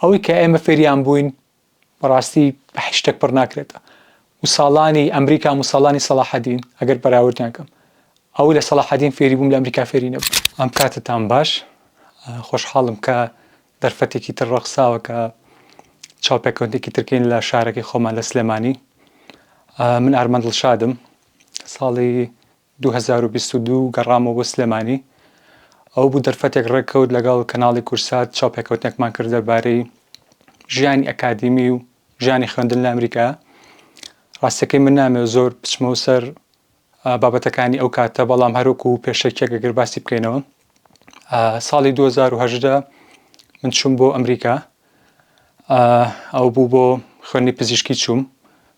ئەوەی کە ئێمە فێریان بووین بەڕاستی بە هیچ شتێک پڕ ناکرێتە و ساڵانی ئەمریکام و ساڵانی سەڵاحەدین ئەگەر بەراوردیان کەم ئەوەی لە سەڵاحەدین فێری بووم لە ئەمریکا فێری نەبووم. ئەم کاتتان باش خۆشحاڵم کە دەرفەتێکی تر ڕەخساوە کە چاوپێکەوتنێکی تر کەین لە شارەکەی خۆمان لە سلێمانی من ئارمەند ڵشادم ساڵی دوو هەزار و بیست و دوو گەڕامەوە بۆ سلێمانی، ئەوە بوو دەرفەتێک ڕێککەوت لەگەڵ کەناڵی کورسات چاوپێکەوتنێکمان کرد دەربارەی ژیانی ئەکادیمی و ژیانی خوێندن لە ئەمریکا، ڕاستەکەی من نامەوێت زۆر بچمەوە سەر بابەتەکانی ئەو کاتە بەڵام هەروەکو پێشەکیەک ئەگەر باسی بکەینەوە ساڵی 2010 من چوم بۆ ئەمریکا ئەو بوو بۆ خوێنی پزیشکی چوم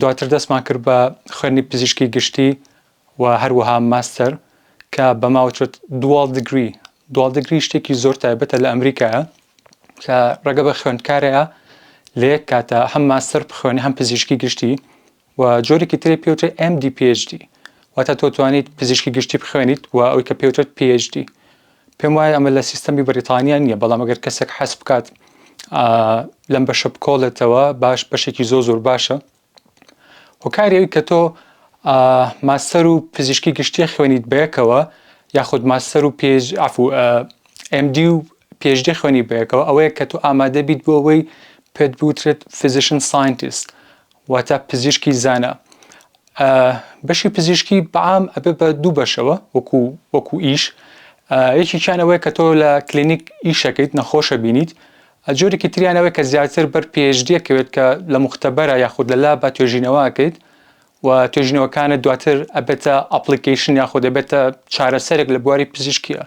دواتر دەستمان کرد بە خوێندنی پزیشکی گشتی و هەروەها ماستەر کە بە ماوچێت دوال دگری دوال دگری شتێکی زۆر تایبەتە لە ئەمریکایە کە ڕێگە بە خوێندکارەیە لە یەک کاتە هەم ماستەر بخوێنی هەم پزیشکی گشتی و جۆرێکی تری پێوتێ MD PhD واتە تۆ توانیت پزیشکی گشتی بخوێنیت و ئەوی کە پێوتێت PhD پێم وایە ئەمە لە سیستەمی بەریتانیا نییە، بەڵام ئەگەر کەسێک حەز بکات لەم بەشە بکۆڵێتەوە باش بەشێکی زۆر زۆر باشە هۆکاری ئەوی کە تۆ ماستەر و پزیشکی گشتیە خوێنیت بەیەکەوە یاخود ماستەر و پێج ئەف و ئەمدی و پێشدی خوێنی بەیەکەوە ئەوەیە کە تۆ ئامادە بیت بۆ ئەوەی پێت بوترێت فزیشن ساینتیست واتە پزیشکی زانا ئە بەشی پزیشکی بەعام ئەبێ بە دوو بەشەوە وەکو وەکو ئیش یەکیان ئەوەیە کە تۆ لە کلینیک ئیشەکەیت نەخۆشە بینیت جۆرێکی تریانەوەی کە زیاتر بەر پێشدیەکەوێت کە لە مختبەرە یاخود لە لا بە توێژینەوەکەیت و توێژینەوەکانە دواتر ئەبێتە ئەپلیکیشن یاخود دەبێتە چارەسەرێک لە بواری پزیشکیە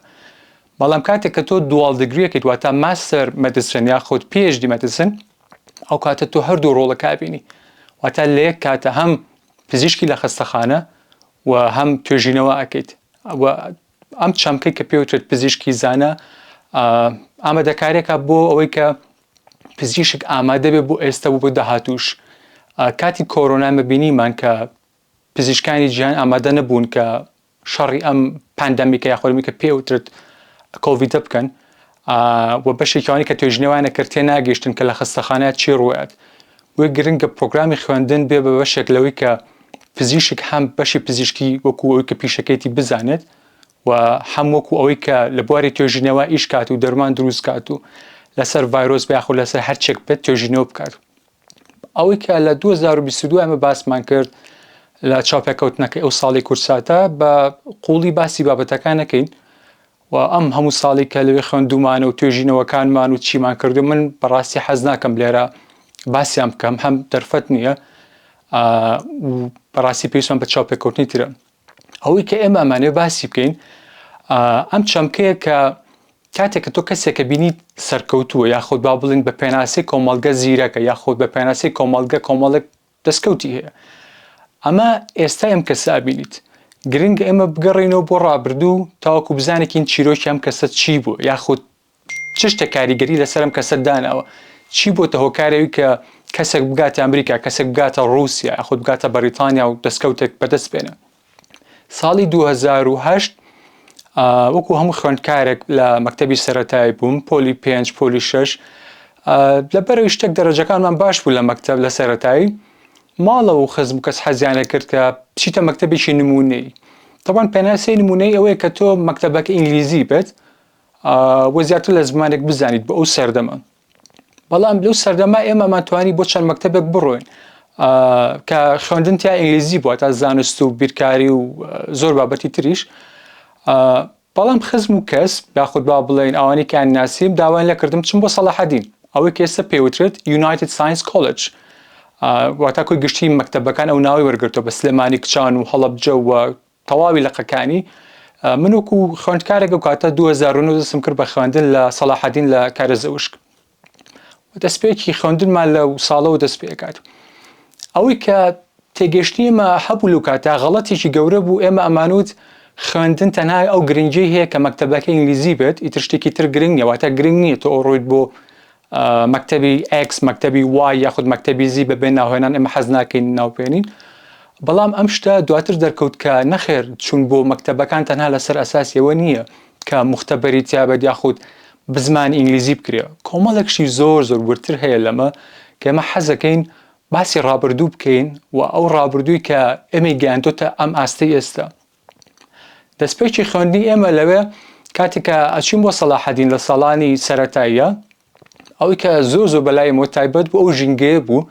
بەڵام کاتێک کە تۆ دوواڵ دەگرێکیت واتە ماستەر مەدیسن یاخود پێشدی مەدیسن ئەو کاتە تۆ هەردوو ڕۆڵە کابینی واتا لە یەک کاتە هەم پزیشکی لە خەستەخانە و هەم توێژینەوە ئەکەیت ئەم چەمکەی کە پێوتێت پزیشکی زانە ئامادەکارێکە بۆ ئەوەی کە پزیشک ئامادە بێ بۆ ئێستا بوو بۆ داهاتوش کاتی کۆرۆنا مەبینیمان کە پزیشکانی جیان ئامادە نەبوون کە شەڕی ئەم پاندەمیکە یا خۆرمی کە پێ وترت کۆڤیدە بکەن و بەشێکیوانی کە توێژنەوانە کرد تێ ناگەشتن کە لە خستەخانە چی ڕوات بۆی گرنگە پرۆگرامی خوێندن بێ بە بەشێک لەوەی کە پزیشک هەم بەشی پزیشکی وەکو ئەوی کە پیشەکەیتی بزانێت و هەم وەکو ئەوەی کە لە بواری توێژینەوە ئیشکات و دەرمان دروستکات و لەسەر ڤایرۆس بەیاخود لەسەر هەرچێک بێت توێژینەوە بکات ئەوەی کە لە 2022 ئەمە باسمان کرد لە چاوپێکەوتنەکەی ئەو ساڵی کورساتە بە قوڵی باسی بابەتەکان نەکەین و ئەم هەموو ساڵی کە لەوێ خوێندومانە و توێژینەوەکانمان و چیمان کردو من بەڕاستی حەز ناکەم لێرە باسیان بکەم هەم دەرفەت نییە بەڕاستی پێویستمان بە چاوپێکەوتنی ترە ئەوەی کە ئێمە ئەمانەوێ باسی بکەین ئەم چەمکەیە کە کاتێک کە تۆ کەسێکە بینیت سەرکەوتووە یاخود با بڵین بە پێناسی کۆمەلگە زیرەکە یاخود بە پێناسی کۆمەلگە کۆمەڵک دەستکەوتی هەیە ئەمە ئێستا ئەم کەسە ئەبینیت گرنگ ئێمە بگەڕینەوە بۆ ڕابردوو تاوەکو بزانێکین چیرۆکی ئەم کەسە چی بوو یاخود چ شتێک کاریگەری لەسەر ئەم کەسە داناوە؟ چی بۆتە هۆکاری ئەوی کە کەسێک بگاتە ئەمریکا، کەسێک بگاتە ڕووسیا یاخود بگاتە بەڕیتانیا و دەستکەوتێک بەدەست بێنێ؟ ساڵی دوو هەزار و هەشت وەکو هەموو خوێندکارێک لە مەکتەبی سەرەتایی بووم، پۆلی پێنج، پۆلی شەش، لەبەرەوەی شتێک دەرەجەکانمان باش بوو لە مەکتەب لە سەرەتایی، ماڵەوە و خزم و کەس حەزیان لەکرد کە بچیتە مەکتەبێکی نموونەیی. تەبعەن پێناسەی نموونەیی ئەوەیە کە تۆ مەکتەبەکە ئینگلیزی بێت، و زیاتر لە زمانێک بزانیت بۆ ئەو سەردەمە بەڵام لەو سەردەما ئێمەمان توانی بۆ چەند مەکتتەبێک بڕۆین کە خوێندن تیا ئینگلیزی بووە تا زانست و بیرکاری و زۆر بابەتی تریش بەڵام خزم و کەس یاخود با بڵێن ئەوانی کە ناسیم داوای لەکردم چم بۆ سەڵحەدین ئەوەی کە ئێستا پێوترێت یونایتد ساینس کۆلج واتاکوی گشتی مەکتتەبەکان ئەو ناوی وەرگرتەوە بە سلێمانی کچان و هەڵبجە و تەواوی لقەکانی من وەکو خوێندکارێک ئەو کاتە 2009 دەستم کرد بە خوێندن لە سەلاحەدین لە کارەزەوشک دەستپێکی خوێندنمان لە ساڵەوە دەست پێکات ئەوەی کە تێگەشتنی ئمە هەبوو لەو کاتە غەڵەتێکی گەورە بوو ئێمە ئەمانوت خوێندن تەنها ئەو گرنگی هەیە کە مەکتتەبەکە ئینگلیزی بێت ئیتر شتێکی تر گرنگ نیەواتە گرنگ نییە تۆ ئەوڕۆیت بۆ مەکتەبی ئێکس، مەکتەبی وای یاخود مەکتەبی زی بە بێ ناوهێنان ئێمە حەز ناکەین ناوبهێنین. بەڵام ئەم شتە دواتر دەرکەوت کە نەخێر چوون بۆ مەکتەبەکان تەنها لەسەر ئەساسی ئەوە نییە کە موختەبەری تیا بێت یاخود بزمانی ئینگلیزی بکرێ. کۆمەڵێک شتی زۆر زۆر وردتر هەیە لەمە کە ئێمە حەزەکەین باسی ڕابردوو بکەین و ئەو ڕابردووی کە ئێمەی گەیاندۆتە ئەم ئاستەی ئێستا. دەستپێکی خوێندنی ئێمە لەوێ کاتێک کە ئەچین بۆ سەلاحەدین لە ساڵانی سەتاییە ئەوەی کە زۆر زۆر بەلای مۆ تایبەت بوو ئەو ژینگەیە بوو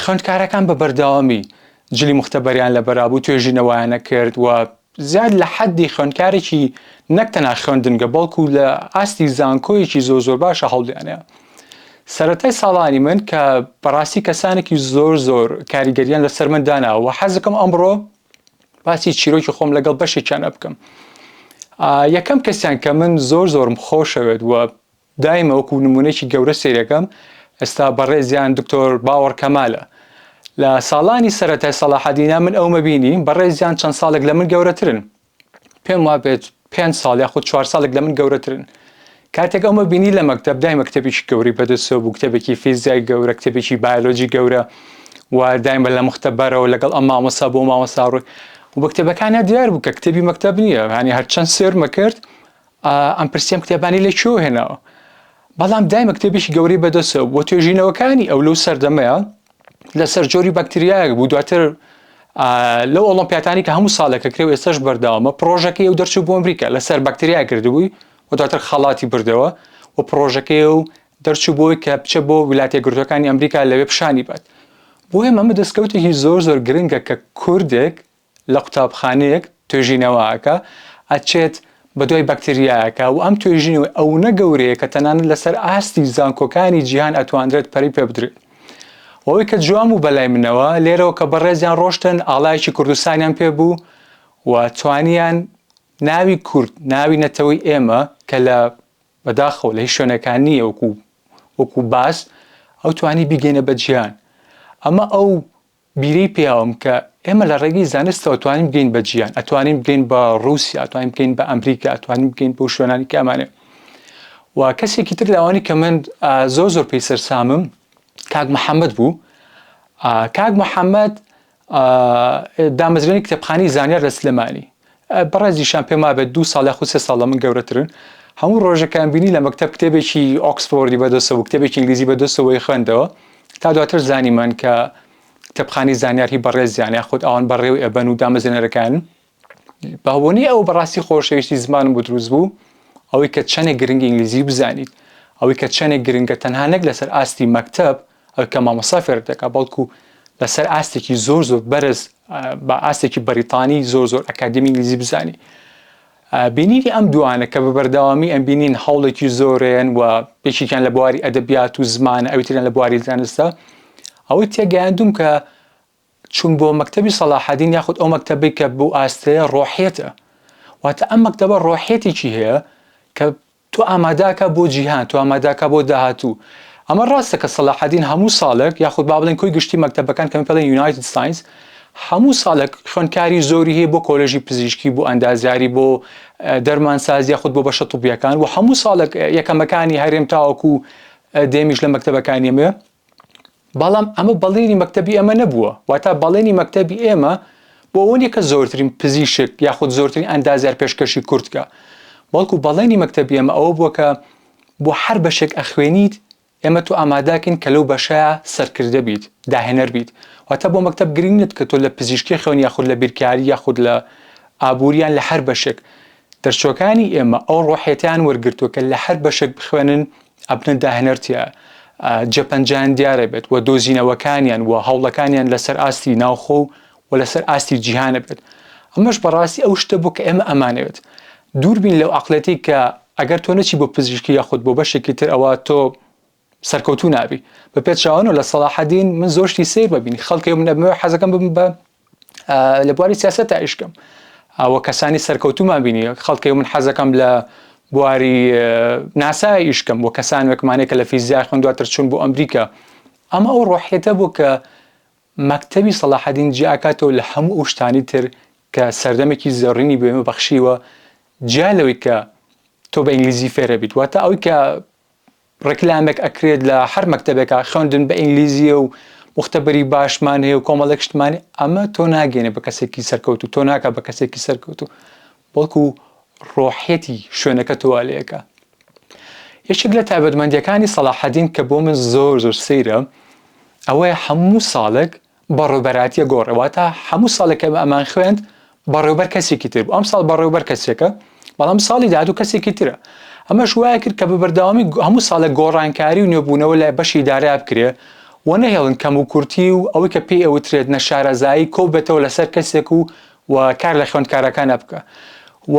خوێندکارەکان بە بەردەوامی جلی مختبەریان لە بەرابوو توێژینەوەیانە کرد و زیاد لە حەدی خوێندکارێکی نەک تەنا خوێندنگە بەڵکو لە ئاستی زانکۆیەکی زۆر زۆر باشە هەڵدیانەیە سەتای ساڵانی من کە بەڕاستی کەسانێکی زۆر زۆر کاریگەریان لەسەر من داناوە حەزەکەم ئەمڕۆ باسی چیرۆکی خۆم لەگەڵ بەشێکیان ئەبکەم یەکەم کەسیان کە من زۆر زۆرم خۆشەوێت وە دایمە وەکو نمونێکی گەورە سیرەکەم ئێستا بەڕێزیان دکتۆر باوەڕ کەمالە لە ساڵانی سەرەتای سەڵاحەدینا من ئەومە بینی بەڕێزیان چەند ساڵێک لە من گەورەترن پێم وابێت پێنج ساڵ یاخود چوار ساڵێک لە من گەورەترن. کاتێک ئەومە بینی لە مەکتەب دایمە کتێبێکی گەورەی بەدەستەوە بوو، کتێبێکی فیزیای گەورە، کتێبێکی بایۆلۆجی گەورە و دایمە لە مختبەرەوە لەگەڵ ئەم مامۆستا بۆ ئەو مامۆستا ڕووی و بە کتێبەکانیا دیار بوو کە کتێبی مەکتەب نییە، یانی هەرچەند سێرمە کرد ئەمپرسیەم کتێبانی لە کوێوە هێناوە؟ بەڵام دایمە کتێبێکی گەورەی بەدەستەوە بوو و توێژینەوەکانی ئەو لەو سەردەمەیە لەسەر جۆری بەکتریایەک بوو دواتر لەو ئۆڵمپیاتانی کە هەموو ساڵێکە کرێ ئێستش بەرداوامە پرۆژەکەی و دەرچوو بۆ ئەمریکا لەسەر بەکتریا کردبووی و دواتر خەڵاتی بردەوە و پرۆژەکەی و دەرچوو بۆی کە بچە بۆ ویلاتە گرتوەکانی ئەمریکا لەوێ پیشانی بات بۆیە ئەمە دەستکەوتێکی زۆر زۆر گرنگە کە کوردێک لە قوتابخانەیەک توێژینەوە ئەکا ئەچێت بەدوای بەکتریایەکا و ئەم توێژینەوەی ئەونە گەورەیە کە تەنانەت لەسەر ئاستی زانکۆکانی جیهان ئەتواندرێت پەرەی پێ بدرێت و ئەوەی کە جوان بوو بەلای منەوە لێرەوە کە بەڕێزیان ڕۆشتن ئاڵایەکی کوردستانیان پێ بوو و توانیان ناوی کورد ناوی نەتەوەی ئێمە کە لە بەداخەوە لە هیچ شوێنەکان نییە وەکو وەکو باس ئەو توانی بیگەینە بە جیهان ئەمە ئەو بیری پیاوم کە ئێمە لە ڕێگەی زانستەوە توانین بگەین بە جیان ئەتوانین بگەین بە ڕووسیا ئەتوانین بگەین بە ئەمریکا ئەتوانین بگەین بۆ شوێنانی کە ئەمانێ و کەسێکی تر لەوانی کە من زۆر زۆر پێی سەرسامم کاک محەممەد بوو کاک محەممەد دامەزرێنی کتێبخانی زانیار لە سلێمانی بەڕای زیشان پێم وابێت دوو ساڵ یاخود سێ ساڵ لە من گەورەترن. هەموو ڕۆژێکیان بینی لە مەکتەب کتێبێکی ئۆکسفۆردی بەدەستە بوو، کتێبێکی ئینگلیزی بەدەستە بوو ئەیخوێندەوە. تا دواتر زانیمان کە کتێبخانەی زانیار هی بەڕێزیانە یاخود ئەوان بەڕێوەی ئەبەن و دامەزرێنەرەکانن. بەهۆنەی ئەوە بەڕاستی خۆشەویستی زمانم بۆ دروست بوو، ئەوەی کە چەندێک گرنگە ئینگلیزی بزانیت، ئەوەی کە چەندێک گرنگە تەنها نەک لەسەر ئاستی مەکتەب، ئەوەی کە مامۆستا فێرت دەکات بەڵکو لەسەر ئاستێکی زۆر زۆر بەرز بە ئاستێکی بەریتانی زۆر زۆر ئەکادمی ئینگلیزی بزانی بینینی ئەم دوانە کە بە بەردەوامی ئەم بینین هەوڵێکی زۆرێن و یەکێکیان لە بواری ئەدەبیات و زمانە ئەویتریان لە بواری زانستە ئەوەی تێگەیاندوم کە چون بۆ مەکتتەبی سەلاحدین یاخود ئەو مەکتتەبی کە بۆ ئاستەیە ڕۆحێتە واتە ئەم مەکتتەبە ڕۆحێتێکی هەیە کە تۆ ئامادەکە بۆ جیهان، تۆ ئامادەکە بۆ داهاتوو. ئەمە ڕاستە کە سەلاحەدین هەموو ساڵێک، یاخود با بڵێین کۆی گشتی مەکتەبەکان کە پێڵێن یونایتد ساینس، هەموو ساڵێک خوێندکاری زۆری هەیە بۆ کۆلێژی پزیشکی، بۆ ئەندازیاری، بۆ دەرمانساز یاخود بۆ بەشە طوبییەکان و هەموو ساڵێک یەکەمەکانی هەرێم تاوەکوو دێمیش لە مەکتەبەکانییە. بەڵام ئەمە بەڵێنی مەکتەبی ئێمە نەبووە واتا بەڵێنی مەکتەبی ئێمە بۆ ئەوە نیە کە زۆرترین پزیشک یاخود زۆرترین ئەندازیار پێشکەشی کوردکە بەڵکو بەڵێنی مەکتەبی ئێمە ئەوە بووە کە بۆ هەر بەشێک ئەخوێنیت ئێمە تۆ ئامادەکەین کە لەو بەشەیە سەرکردە بیت داهێنەر بیت واتە بۆ مەکتب گرنگ نت کە تۆ لە پزیشکی خوێن یاخود لە بیرکاری یاخود لە ئابووریان لە هەر بەشێک دەرچوەکانی ئێمە ئەو ڕۆحێتیان وەرگرتووە کە لە هەر بەشێک بخوێنن ئەبنە داهێنەرتە جێپەنجان دیارە بێت و دۆزینەوەکانیان و هەوڵەکانیان لەسەر ئاستی ناوخۆ و و لەسەر ئاستی جیهانە بێت ئەمەش بەڕاستی ئەو شتە بوو کە ئێمە ئەمانەوێت دووربین لەو عقلەتی کە ئەگەر تۆ نەچی بۆ پزیشکی یاخود بۆ بەشێکی تر ئەوە تۆ سەرکەوتو نابی بە پێچوانەوە لە سەلاحەدین من زۆشتی سیر ببین خەڵکی منەبمەوە حەزەکەم بم بە لە بواری سیاسەت ئایشکەم ئەوە کەسانی سەرکەوتومان بینی خەڵکی من حەزەکەم لە بواری ناسای ئیشکەم بۆ کەسان وەکمانێکە لە فیزیا خوند دواتر چون بۆ ئەمریکا ئەمە ئەو ڕۆحێتە بوو کە مەکتەوی سەڵاحدین جیاکاتەوە لە هەموو ئەو شتانی تر کە سەردەمێکی زۆڕینی بێمە بەخشیوە جیا لەوەی کە تۆ بە ئینگلیزی فێرە بیت واتە ئەوی کە ڕێکلامێک ئەکرێت لە هەر مەکتەبێکا خوێندن بە ئینگلیزیە و موختەبەری باشمان هەیە و کۆمەڵێک شتمانی ئەمە تۆ ناگەێنێ بە کەسێکی سەرکەوتوو تۆ ناکە بە کەسێکی سەرکەوتوو بەڵکو ڕۆحیەتی شوێنەکە تۆوا لەکە یەکێک لە تابەتمەندیەکانی سەڵاحەدین کە بۆ من زۆر زۆر سەیرە ئەوەیە هەموو ساڵێک بەڕێوبەرایەتیە گۆڕێ واتا هەموو ساڵێک کە ئەمان خوێند بەڕێوبەر کەسێکی تر بوو ئەم ساڵ بەڕێوبەر کەسێکە بەڵام ساڵی داهاتوو کەسێکی ترە ئەمەش وایە کرد کە بە بەردەوامی هەموو ساڵێک گۆڕانکاری و نوێبوونەوە لە بەشی دارا بکرێ و نەهێڵن کەم و کورتی و ئەوەی کە پێی ئەوترێت نەشارەزایی کۆبێتەوە لەسەر کەسێک و و کار لە خوێندکارەکانە بکە و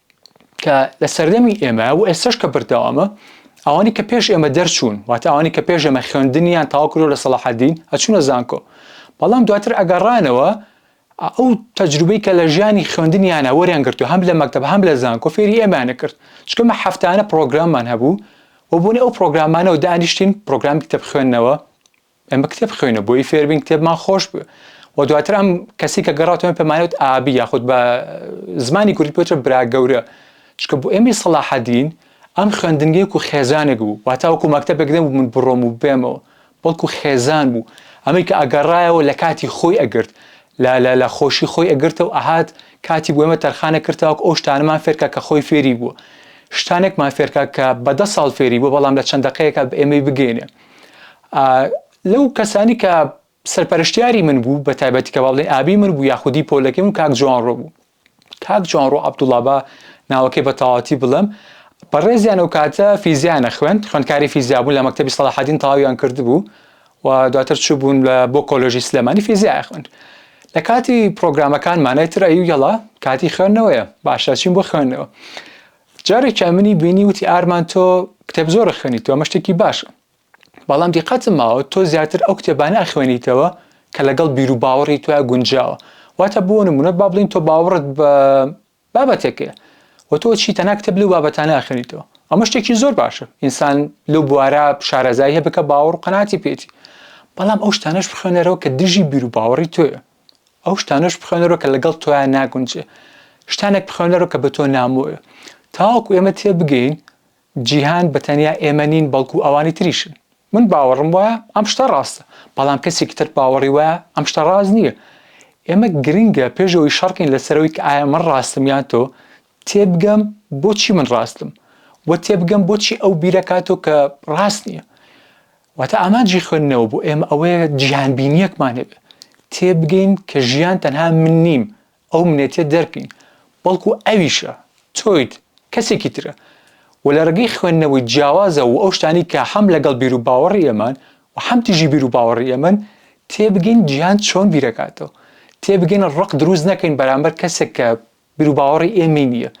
کە لە سەردەمی ئێمەیە و ئێستەش کە بەردەوامە، ئەوانی کە پێش ئێمە دەرچوون، واتە ئەوانی کە پێش ئێمە خوێندنیان تەواو کردووە لە سەڵاحەدین، ئەچوونە زانکۆ، بەڵام دواتر ئەگەڕانەوە ئەو تەجروبەی کە لە ژیانی خوێندنیانە وەریان گرتووە، هەم لە مەکتەب هەم لە زانکۆ فێری ئێمەیان ئەکرد، چونکە ئێمە هەفتانە پڕۆگراممان هەبوو و بۆ نموونە ئەو پڕۆگرامانەوە دانیشتین، پڕۆگرامی کتێب خوێندنەوە، ئێمە کتێب بخوێنە بۆی فێربین کتێبمان خۆش بێ و دواتر ئەم کەسی کە گەڕاتەوە پێمانوت ئابی یاخود بە زمانی کوردی پێچە برا گەورە چکە بۆ ئێمەی سەڵاحەدین ئەم خوێندنگەیەک و خێزانێک بوو واتاوەکو مەکتتەبێک دەم من بڕۆم و بێمەوە بەڵکو خێزان بوو ئەمەی کە ئەگەڕایەوە لە کاتی خۆی ئەگرت لە لە لە خۆشی خۆی ئەگرتە و ئەهات کاتی بۆێمە تەرخانە کردتاوک ئەو شتانەمان فێرکە کە خۆی فێری بووە شتانێکمان فێرکە کە بەدە ساڵ فێری بوو بەڵام لە چەندەقەیەکە بە ئێمەی بگەینێ لەو کەسانی کە سەرپەرشتیاری من بوو بە تایبەتی کە باڵێ ئابی من بوو یاخودی پۆلەکەی من کاک جوان ڕۆ بوو کاک جوان ڕۆ عبدوڵابا ناوەکەی بە تەواتی بڵم بەڕێزیان و کاتە فیزیانە خوێن خوێندکاری فیزیا بوو لە مەکتتەبی سەڵحدین تەواویان کردبوو و دواتر چوو بوون لە بۆ کۆلۆژی سلێمانی فیزیای خوێن لە کاتی پرۆگرامەکان مانای ترایی و یەڵا کاتی خوێندنەوەیە باشە چین بۆ خوێندنەوە جارێکیان منی بینی وتی ئارمان تۆ کتێب زۆر ئەخوێنیتەوە ئەمە شتێکی باشە بەڵام دیقەتم ماوە تۆ زیاتر ئەو کتێبانە ئەخوێنیتەوە کە لەگەڵ بیر و باوەڕی تۆیا گونجاوە واتە بۆ نمونە با بڵین تۆ باوەڕت بە بابەتێکەیە و تۆ چی تەنها کتێب لەو بابەتانە ئەخوێنیتەوە ئەمە شتێکی زۆر باشە ئینسان لەو بوارە شارەزای هەبێت کە باوەڕ و قەناعەتی پێیەتی بەڵام ئەو شتانەش بخوێنەرەوە کە دژی بیر و باوەڕی تۆیە ئەو شتانەش بخوێنەرەوە کە لەگەڵ تۆیان ناگونجێ شتانێک بخوێنەرەوە کە بە تۆ نامۆیە تاوەکو ئێمە تێبگەین جیهان بە تەنیا ئێمە نین بەڵکو ئەوانی تریشن من باوەڕم وایە ئەم شتە ڕاستە بەڵام کەسێکی تر باوەڕی وایە ئەم شتە ڕاست نییە ئێمە گرنگە پێشەوەی شەڕکەین لەسەرەوەی کە ئایا من ڕاستم یان تۆ تێبگەم بۆچی من ڕاستم و تێبگەم بۆچی ئەو بیرەکاتۆ کە ڕاست نییە واتە ئامانجی خوێندنەوە بۆ ئێمە ئەوەیە جیهانبینیەکمان هەبێ تێبگەین کە ژیان تەنها من نیم ئەو منێتیە دەرکەین بەڵکو ئەویشە تۆیت کەسێکی ترە و لە ڕێگەی خوێندنەوەی جیاوازە و ئەو شتانی کە حەم لەگەڵ بیر و باوەڕی ئێمان و حەم تیژی بیر و باوەڕی ئێمەن تێبگەین جیهان چۆن بیرەکاتەوە تێبگەین ڕق دروست نەکەین بەرامبەر کەسێک کە بیروباوەڕی ئێمەی نییە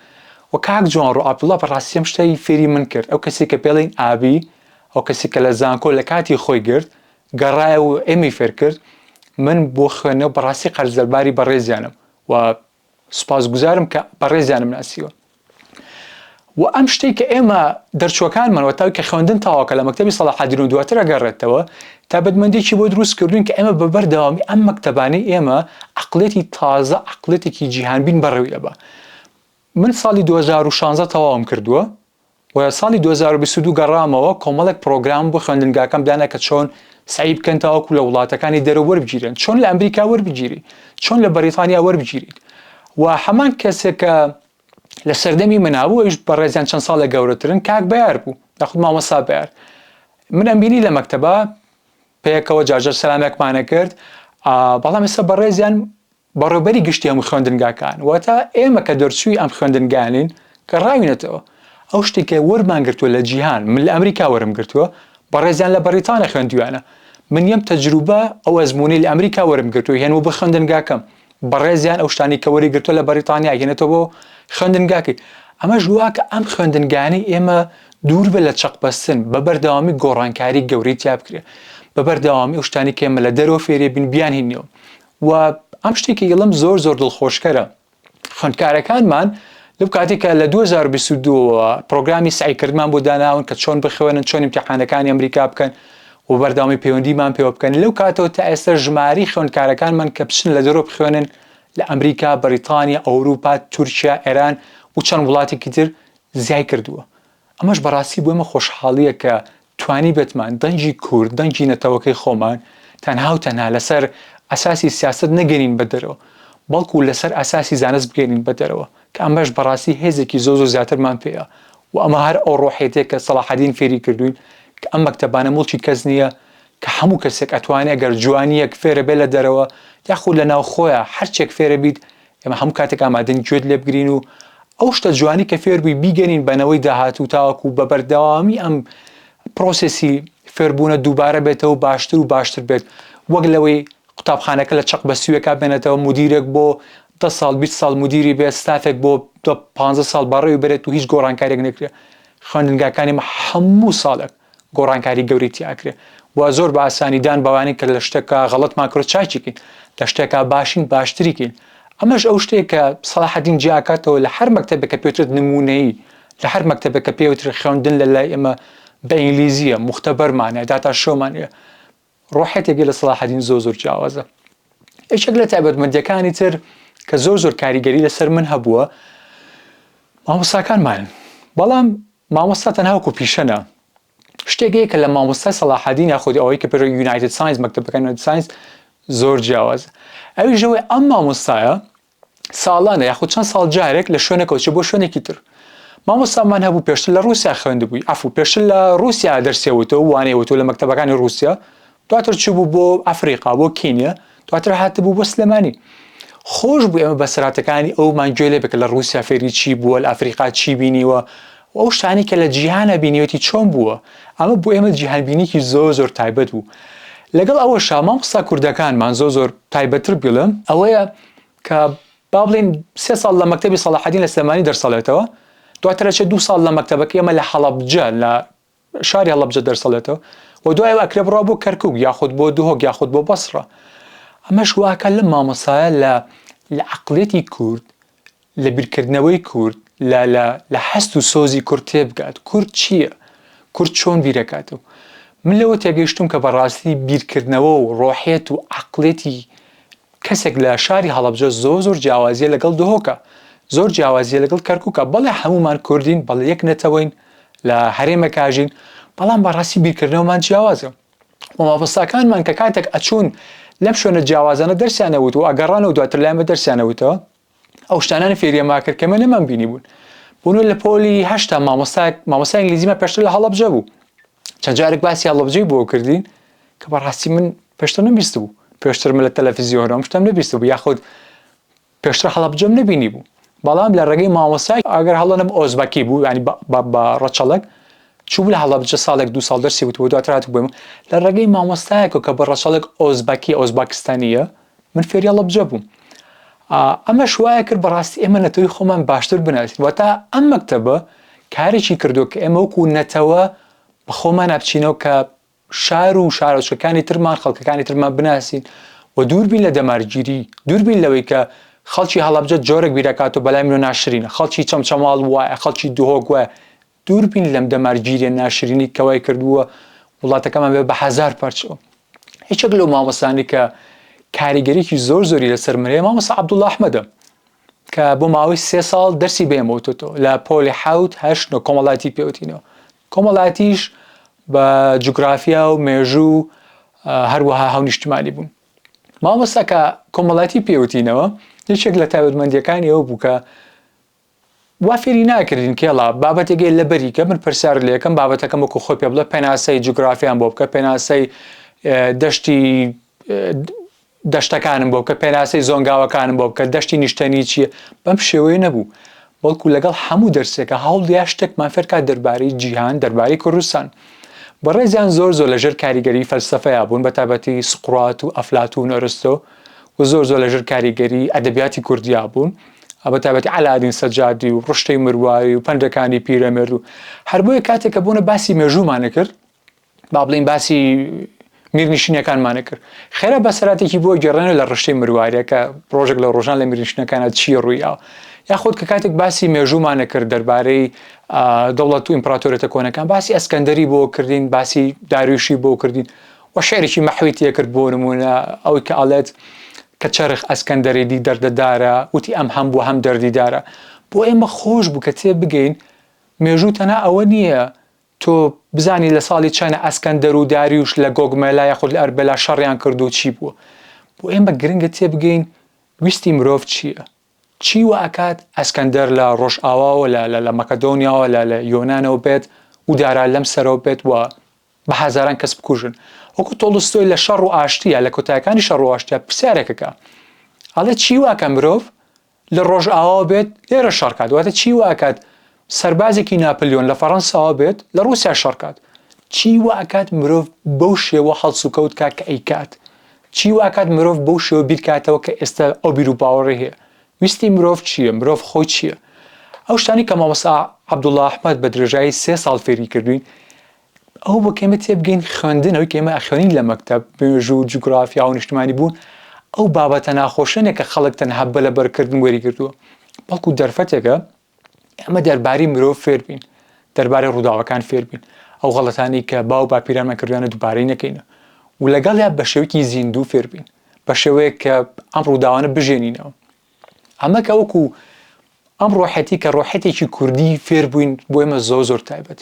و کاک جوانڕۆ عەبدوڵا بەڕاستی ئەم شتەی فێری من کرد، ئەو کەسەی کە پێڵێین ئابی، ئەو کەسەی کە لە زانکۆ لە کاتی خۆی گرت، گەڕایەوە و ئێمەی فێر کرد، من بۆ خوێندنەوە بەڕاستی قەرزدەرباری بەڕێزیانم و سوپاسگوزارم کە بەڕێزیانم ناسیوە. وە ئەم شتەی کە ئێمە دەرچوەکانمان وە تاکی خوێندن تەواوکە لە مەکتەبی سەلاحەدین و دواتر ئەگەڕێتەوە تایبەتمەندیەکی بۆ دروست کردوین کە ئێمە بە بەر دەوامی ئەم مەکتەبانەی ئێمە عەقڵیەتی تازە عەقڵیەتێکی جیهان بین بەڕێوی دەبا من ساڵی دوو هەزار و شانزە تەواوم کردوە و ساڵی دوو هەزار و بیست و دوو گەڕامەوە کۆمەڵێک پڕۆگرام بۆ خوێندنگاکەم دانا کە چۆن سەعی بکەن تاوەکو لە وڵاتەکانی دەرە وەربگیرێن چۆن لە ئەمریکا وەربگیری چۆن لە بەریتانیا وەربگیریت و هەمان کەسێک کە لە سەردەمی منا بوو ئەویش بەڕێزیان چەند ساڵێک گەورەترن کاک بەیار بوو یاخود مامۆستا بەیار من ئەمبینی لە مەکتەبە پێکەوە جارجار سەلامێکمانە کرد بەڵام ئێستا بەڕێزیان بەڕێبەری گشتی هەموو خوێندنگاکان واتە ئێمە کە دەرچووی ئەم خوێندنگانین کە ڕاوینەتەوە ئەو شتێکە وەرمان گرتووە لە جیهان من لە ئەمریکا وەرم گرتووە بەڕێزیان لە بەریتانە خوێندویانە من یەم تەجروبە ئەو ئەزمونەی لە ئەمریکا وەرم گرتووە هێن و بە خوێندنگاکەم بەڕێزیان ئەو شتانی کە وەری گرتووە لە بەریتانیا گەێنێتەوە بۆ خوێندنگاکەی ئەمەش واکە ئەم خوێندنگانی ئێمە دوور بە لە چەقبەستن بە بەردەوامی گۆڕانکاری گەورەی تیا بکرێ بە بەردەوامی ئەو شتانی کە ئێمە لە دەرەوە فێری بین بیان هینەوە و ئەم شتێکی یڵم زۆر زۆر دڵخۆشکەرە خوندکارەکانمان لەو کاتێکە لە 2022ەوە پرۆگرامی سعیکردمان بۆ داناون کە چۆن بخوێنن چۆن امتحانەکانی ئەمریکا بکەن و بەردەوامی پەیوەندیمان پێوە بکەن لەو کاتەوە تا ئێستا ژماری خوێندکارەکانمان کە بچن لە دەرەوە بخوێنن لە ئەمریکا، بەریتانیا، ئەوروپا، تورکیا، ئێران و چەند وڵاتێکی تر زیای کردووە. ئەمەش بەڕاستی بۆ ئێمە خۆشحاڵییە کە توانیبێتمان دەنگی کورد، دەنگی نەتەوەکەی خۆمان تەنها و تەنها لەسەر ئەساسی سیاسەت نەگەیەنین بە دەرەوە، بەڵکو لەسەر ئەساسی زانست بگەیەنین بە دەرەوە. کە ئەمەش بەڕاستی هێزێکی زۆر زۆر زیاترمان پێیە و ئەمە هەر ئەو ڕۆحیەتەیە کە سەڵاحەدین فێری کردووین کە ئەم مەکتەبانە موڵکی کەس نییە کە هەموو کەسێک ئەتوانێ گەر جوانیەک فێرە بێ لە دەرەوە یاخود لە ناو خۆیە هەر چێک فێرە بیت ئێمە هەموو کاتێک ئامادەین گوێت لێ بگرین و ئەو شتە جوانی کە فێر بووی بیگەنین بە نەوەی داهاتوو تاوەکو بە بەردەوامی ئەم پڕۆسێسی فێربوونە دووبارە بێتەوە و باشتر و باشتر بێت وەک لەوەی قوتابخانەکە لە چەق بە سوێکا بێنێتەوە، مودیرێک بۆ دە ساڵ بیست ساڵ مودیری بێت، ستافێک بۆ دە پانزە ساڵ بەڕێوەی بەرێت و هیچ گۆڕانکارییەک نەکرێ. خوێندنگاکانی مە هەموو ساڵێک گۆڕانکاری گەورەی تیا ئەکرێ و زۆر بە ئاسانی دان بەوانین کە لە شتێکا غەڵەتمان کردوە چاکی کەین، لە شتێکا باشین باشتری کەین. ئەمەش ئەو شتەیە کە سەڵاحەدین جیا ئەکاتەوە لە هەر مەکتەبێک کە پێوترێت نموونەیی، لە هەر مەکتەبێک کە پێوترێ خوێندن لە لای ئێمە بە ئینگلیزییە، موختەبەرمان هەیە، داتا شۆمان هەیە، ڕۆحێتێک هەیە لە سەڵاحەدین زۆر زۆر جیاوازە یەکێک لە تایبەتمەندیەکانی تر کە زۆر زۆر کاریگەری لەسەر من هەبووە مامۆستاکانمانن بەڵام مامۆستا تەنها وەکو پیشەنا شتێکەیە کە لە مامۆستای سەڵاحەدین یاخود ئەوەی کە پێرۆ یونایتد ساینس مەکتتەبەکان ساینس زۆر جیاواز ئەوی ژەوەی ئەم مامۆستایە ساڵانە یاخود چەند ساڵ جارێک لە شوێنەکەەوە چێ بۆ شوێنێکی تر مامۆستامان هەبوو پێشتر لە رووسیا خوێند بووی ئەف و پێشتر لە رووسیا دەرسێوتەوە وانەیەوەەوە لە مەکتتەبەکانی رووسیا دواتر چ بوو بۆ ئەفریقا بۆ کینە دواتر هاتبوو بۆ سلێمانی خۆش بوو ئێمە بەسراتەکانی ئەومان گوێ لێ بکە لە رووسیا فێری چی بووە لە ئەفریقا چی بینیوە و ئەو شتانەی کە لە جیهانا بینیوێتی چۆن بووە، ئەمە بۆ ئێمە جیهانبینیەکی زۆر زۆر تایبەت بوو، لەگەڵ ئەوەشا مامۆستا کوردەکانمان زۆر زۆر تایبەتتر بڵێم ئەوەیە کە با بڵێین سێ ساڵ لە مەکتەبی سەڵاحەدین لە سلێمانی دەرسەڵێتەوە دواتر ئەچێت دوو ساڵ لە مەکتەبەکەی ئێمە لە هەڵەبجە لە شاری هەڵەبجە دەرسەڵێتەوە و دوای ئەوە ئەکرێ بڕوا بۆ کەرکوک یاخود بۆ دهۆک یاخود بۆ بەسڕە ئەمەش واکە لە مامۆسایە لە لە عقلێتی کورد لە بیرکردنەوەی کورد لە لە لە هەست و سۆزی کورد تێبگات کورد چییە کورد چۆن بیرەکات و من لەوە تێگەیشتوم کە بەڕاستی بیرکردنەوە و ڕۆحێت و عقلێتی کەسێک لە شاری هەڵەبجە زۆر زۆر جیاوازیە لەگەڵ دهۆکە زۆر جیاوازیە لەگەڵ کەرکوکە بەڵێ هەمومان کوردین بەڵێ یەک نەتەوەین لە هەرێمەکاژین بەڵام بەڕاستی بیرکردنەوەمان جیاوازە و مامۆستاکانمان کە کاتێک ئەچوون لەم شوێنە جیاوازانە دەرسیانەوت و ئەگەڕانەوە دواتر لایمە دەرسیانەوتەوە ئەو شتانانی فێریە ماکرد کەمە نەمان بینی بوون بوونە لە پۆلی هەشتا مامۆستا مامۆسا ئینگلیزیمە پێشتر لە هەڵەبجە بوو چەند جارێک باسی هەڵەبجەی بۆ کردین کە بەڕاستی من پێشتر نەبیست بوو پێشتر من لە تەلەفیزیۆنەوەم شتم نەبیست بوو یاخود پێشتر هەڵەبجەم نەبینی بوو بەڵام لە ڕێگەی مامۆسای ئەگەر هەڵەنم ئۆزبەکی بوو ینی بە ڕەچەڵک چوو لە هەڵەبجە ساڵێک دو ساڵ دەرسی وتوە دواترات بووم لە ڕێگەی مامۆستایەکە کە بە ڕەچەڵک ئۆزبەکی ئۆزباکستانیە من فێری هەڵەبجە بووم. ئەمەش وایە کرد بەڕاستی ئێمە نەتەوەی خۆمان باشتر بناسین وە تا ئەم مەکتتەبە کارێکی کردو کە ئێمە وەکو نەتەوە بە خۆمان ئەبچینەوە کە شار و شارۆچکەکانی ترمان خەڵکەکانی ترمان بناسین و دووربین لە دەمارگیری دووربین لەوەی کە خەڵکی هەڵەبجە جۆرە بیرەکات و بەلای منۆ ناشرینە خەڵکی چەمچەماڵ وایە خەڵکی دهۆک وایە دوور بین لەم دەمار گیریە ناشرینەی کە وای کردووە وڵاتەکەمان بێ بە هەزار پارچەوە هیچێک لەو مامۆسانی کە کاریگەریکی زۆر زۆری لەسەر مرێ مامۆسا عبدوڵ ئەحمەدە کە بۆ ماوەی سێ ساڵ دەرسی بێمەوتۆ لە پۆلی حوت هەشت نۆ کۆمەڵاتی پێوتینەوە کۆمەڵاتیش بە جوگرافیا و مێژوو هەروەها هەونیشتمانی بوون مامۆساکە کۆمەڵاتی پێوتینەوە یەکێک لە تایبەتمەندیەکانی ئەو بووکە وا فێری ناکردین کێڵا بابەتێک یە لەبەری کە من پرسیار لێکەم بابەتەکەم وەکو خۆی پێ بڵێ پێناسەی جوگرافیان بۆ بکە پێناسەی دەشتی دەشتەکانم بۆ بکە پێناسەی زۆنگاوەکانم بۆ بکە دەشتی نیشتەنی چییە بەم شێوەیە نەبوو بەڵکو لەگەڵ هەموو دەرسێکە هەوڵدیا شتێکمان فێرکات دەربارەی جیهان دەربارەی کوردستان بەڕێزیان زۆر زۆر لەژێر کاریگەری فەلسفەیا بوون بە تابەتی سقرات و ئەفلات و نۆرستۆ و زۆر زۆر لەژێر کاریگەری ئەدەبیاتی کوردیا بوون ئا بە تایبەتی عەلادین سەجادی و ڕشتەی مرواری و پەنجەکانی پیرەمێرد و هەر بۆیە کاتێک کە بوونە باسی مێژوومانە کرد با بڵین باسی میرنیشینەکانمانە کرد خێرا بەسەراتێکی بۆ گەڕێنە لە ڕشتەی مرواریە کە ڕۆژێک لە ڕۆژان لە میرنیشنەکانە چی ڕوویاوە یاخود کە کاتێک باسی مێژوومانە کرد دەربارەی دەوڵەت و ئیمپراتۆرێتە کۆنەکان باسی ئەسکەندەری بۆ کردین باسی دارویشی بۆ کردین وە شعرێکی مەحوی تێکرد بۆ نموونە ئەوەی کە ئەڵێت کە چەرخ ئەسکەندەری دی دەردەدارە وتی ئەم هەم بوو هەم دەردیدارە بۆ ئێمە خۆش بوو کە تێ بگەین مێژوو تەنها ئەوە نییە تۆ بزانی لە ساڵی چەنە ئەسکەندەر و داریوش لە گۆگمەلا یاخود لە ئەربەلا شەڕیان کرد و چی بووە بۆ ئێمە گرنگە تێ بگەین ویستی مرۆڤ چییە چی وە ئەکات ئەسکەندەر لە ڕۆژئاواوە لە لە مەکەدۆنیاوە لە لە یۆنانەوە بێت و دارا لەم سەرەوە بێت وە بە هەزاران کەس بکوژن وەکو تۆڵستۆی لە شەڕ و ئاشتیە لە کۆتایەکانی شەڕ و ئاشتیە پرسیارێکە کە ئەڵێ چی واکە مرۆڤ لە ڕۆژ ئاواو بێت لێرە شەڕکات واتە چی واکات سەربازێکی ناپلیۆن لە فەڕەنساوە بێت لە ڕوسیا شەڕکات چی واکات مرۆڤ بەو شێوە هەڵس و کەوت کا کە ئەیکات چی واکات مرۆڤ بەو شێوە بیرکاتەوە کە ئێستا ئەو بیر و باوەڕی هەیە ویستی مرۆڤ چییە مرۆڤ خۆی چییە ئەو شتانی کە مامۆستا عەبدوڵڵا ئەحمەد بە درێژایی سێ ساڵ فێری کردوین ئەوە بۆ کە ئێمە تێبگەین خوێندن، ئەوەی کە ئێمە ئەخوێنین لە مەکتەب، مێژوو، جوگرافیا و نیشتمانیبوون، ئەو بابەتە ناخۆشە نیە کە خەڵک تەنها بە لەبەرکردن وەریگرتووە، بەڵکو دەرفەتێکە ئێمە دەربارەی مرۆڤ فێربین، دەربارەی ڕووداوەکان فێربین، ئەو غەڵەتانەی کە باو باپیرانمان کردوویانە دووبارەی نەکەین و لەگەڵیا بە شێوەیەکی زیندوو فێربین، بە شێوەیەک کە ئەم ڕووداوانە بژێنینەوە. ئەمە کە وەکو ئەم ڕۆحەتی کە ڕۆحەتێکی کوردی فێربووین بۆ ئێمە زۆر زۆر تایبەت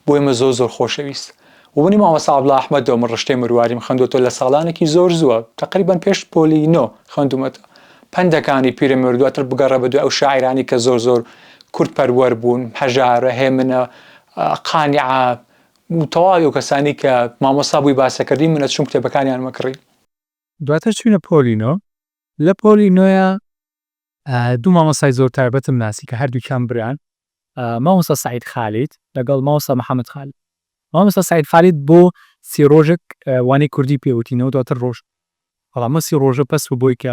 بۆ ئێمە زۆر زۆر خۆشەویست و منی مامەسا عەبدوڵا ئەحمەدەوە من ڕشتەی مرواریم خوێندوەتەوە لە ساڵانێکی زۆر زووە تەقریبەن پێش پۆلی نۆ خوێندومەتە پەندەکانی پیرەمێرد دواتر بگەڕێ بە دوای ئەو شاعیرانی کە زۆر زۆر کورد پەروەر بوون هەژارە هێمنە قانعە و تەواوی و کەسانی کە مامۆستا بووی باسەکردی منە چوم کتێبەکانیانمە کڕی. دواتر چووینە پۆلی نۆ لە پۆلی نۆیا دوو مامۆستای زۆر تایبەتم ناسی کە هەردووکیان بران مامۆستا سەعید خالید لەگەڵ مامۆستا محەمەد خالید مامۆستا سەعید خالید بۆ سی ڕۆژێک وانەی کوردی پێ وتینەوە دواتر ڕۆشت بەڵام ئەم سی ڕۆژە بەس بووی کە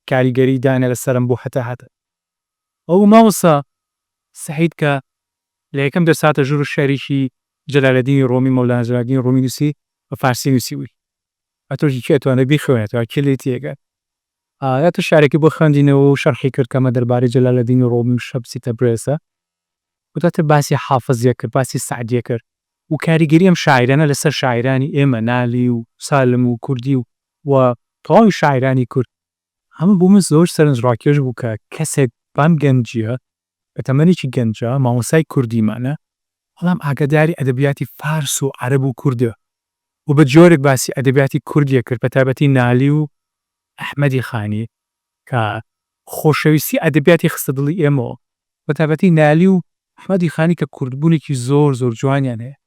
کاریگەری داینا لەسەرم بۆ هەتا هەتە ئەو مامۆستا سەعید کە لە یەکەم دەرس هاتە ژوور و شیعرێکی جەلالەدینی ڕۆمی مەولانا جەلالەدینی ڕۆمی نووسی بە فارسی نووسیوی ئەتووش کێ توانێت بیخوێنێتەوە کێ لێی تێگە ئایا تو شعرێکی بۆ خوێندینەوە و شەرحی کرد کەمە دەربارەی جەلالەدینی ڕۆمی و شەمسی تەبرێزە و دواتر باسی حافزیە کرد باسی سەعدیە کرد و کاریگەری ئەم شاعیرانە لەسەر شاعیرانی ئێمە نالی و سالم و کوردی و و تەواوی شاعیرانی کورد ئەمە بۆ من زۆر سەرنجڕاکێش بوو کە کەسێک بەم گەنجیە لە تەمەنێکی گەنجا مامۆستای کوردیمانە، بەڵام ئاگاداری ئەدەبیاتی فارس و عەرەب و کوردە و بە جۆرێک باسی ئەدەبیاتی کوردی ئەکرد بە تایبەتی نالی و ئەحمەدی خانی کە خۆشەویستی ئەدەبیاتی خستە دڵی ئێمە و بە تایبەتی نالی و ئەحمەدی خانی کە کوردبوونێکی زۆر زۆر جوانیان هەیە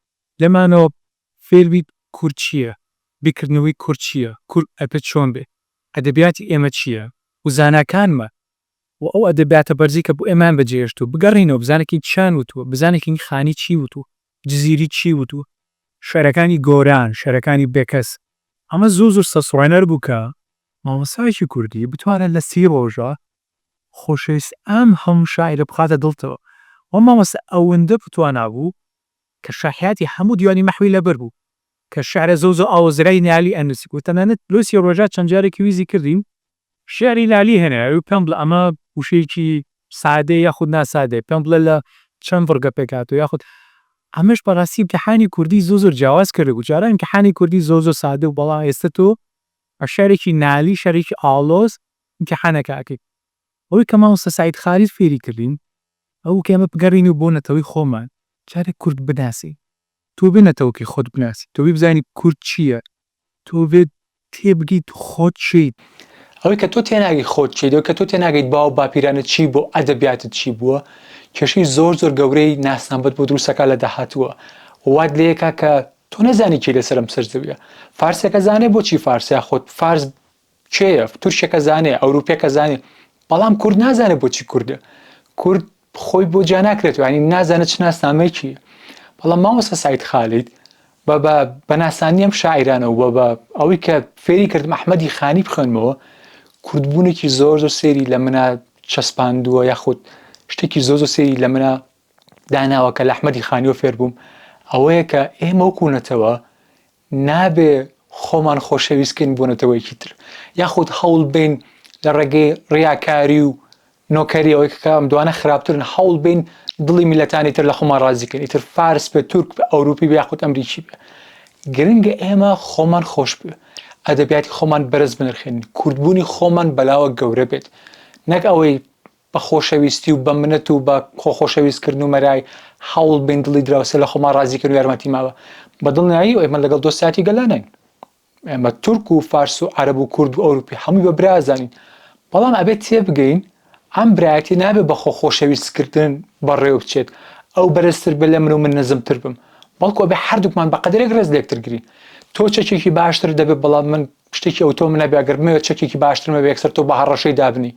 لێمانەوە فێری کورد چییە، بیرکردنەوەی کورد چییە، کورد ئەبێت چۆن بێت، ئەدەبیاتی ئێمە چییە و زاناکانمان و ئەو ئەدەبیاتە بەرزەی کە بۆ ئێمەیان بەجێهێشتووە، بگەڕێینەوە بزانەکین چیان وتووە، بزانەکین خانی چی وتووە، جزیری چی وتووە، شعرەکانی گۆران، شعرەکانی بێکەس. ئەمە زۆر زۆر سەرسوڕهێنەر بوو کە مامۆستایەکی کوردی بتوانێت لە سی ڕۆژە خۆشەویستی ئەم هەموو شاعیرە بخاتە دڵتەوە. ئەو مامۆستا ئەوەندە بتوانا بوو کە شاحیاتی هەموو دیوانی مەحوی لەبەر بوو کە شعرە زەوزە و ئاوەزرای نالی ئەنووسی و تەنانەت لەو سی ڕۆژە چەند جارێکی ویزی کردین شیعری لالی هێنای ئەوی پێم بڵێ ئەمە وشەیەکی سادەیە یاخود ناسادەیە پێم بڵێ لە چەند بڕگە پێک هاتووە یاخود ئەمەش بەڕاستی ئیمتیحانی کوردی زۆر زۆر جیاواز کردبوو جاران ئیمتیحانی کوردی زۆر زۆر سادە بوو بەڵام ئێستە تۆ بە شیعرێکی نالی شیعرێکی ئاڵۆز ئیمتیحانەکە ئەکەی ئەوەی کە مامۆستا سەعید خالید فێری کردین ئەوبوو کە ئێمە بگەڕێینەوە بۆ نەتەوەی خۆمان جارێ کورد بناسین تۆ بێ نەتەوەکەی خۆت بناسی، تۆ بێ بزانی کورد چییە، تۆ بێ تێبگەیت خۆت چیت، ئەوەی کە تۆ تێناگەی خۆت چیت، ئەوەی کە تۆ تێناگەیت باو باپیرانت چی بووە و ئەدەبیاتت چی بووە، کێشەی زۆر زۆر گەورەی ناسنامەت بۆ دروست ئەکا لە داهاتووە و وات لێ ئەکا کە تۆ نەزانی کێی لەسەر ئەم سەرزەوییە. فارسێک ئەزانێ بۆچی فارسە یاخود فارس کێیە تورکێکە زانێ ئەوروپێکە زانێ بەڵام کورد نازانێت بۆچی کوردە کورد خۆی بۆ جا ناکرێت ینی نازانە چ ناسنامەیەکی بەڵام ماوەسە سایت خالیت بە بە بەناسانی ئەم شاعرانە و بە بە ئەوەی کە فێری کردم ئەحمەدی خانی بخوێنمەوە کوردبوونێکی زۆر زۆر سێری لە منە چەسپاندووە یاخود شتێکی زۆ زۆ سێری لە منە داناوە کە لە ئەحمەدی خانیۆ فێربووم ئەوەیە کە ئێمە وەکوونەتەوە نابێ خۆمان خۆشەویست کەین بۆ نەتەوەیەکی تر، یاخود هەوڵ بین لە ڕێگەی ڕیاکاری و نۆکەری ئەوەی کە ئەم دوانە خراپترن هەوڵ بین دڵی میللەتانی تر لە خۆمان ڕازی کەین ئیتر فارس بێ تورک بێ ئەوروپی بێ یاخود ئەمریکی بێ گرنگە ئێمە خۆمان خۆش بێ ئەدەبیاتی خۆمان بەرز بنرخێنین کوردبوونی خۆمان بەلاوە گەورە بێت نەک ئەوەی بە خۆشەویستی و بە منەت و بە خۆ خۆشەویست کردن و مەرای هەوڵ بین دڵی دراوسێ لە خۆمان ڕازی کەین و یارمەتی ماوە بە دڵنیایی ئێمە لەگەڵ دۆستایەتی گەللا نین ئێمە تورک و فارس و عەرەب و کورد و ئەوروپی هەمووی بە برا ئەزانین بەڵام ئەبێت تێبگەین ئەم برایەتی نابێت بە خۆ خۆشەویست کردن بەڕێوە بچێت ئەو بەرزتر بێت لە من و من نزمتر بم بەڵکو ئەبێت هەردووکمان بە قەدرێک ڕێز لە یەکتر گرین تۆ چەکێکی باشترت دەبێت بەڵام من شتێکی ئەوتۆ من نەبێ ئەگەر بمەوێت چەکێکی باشترم هەبێ یەکسەر تۆ بە هەڕەشەی دابنێی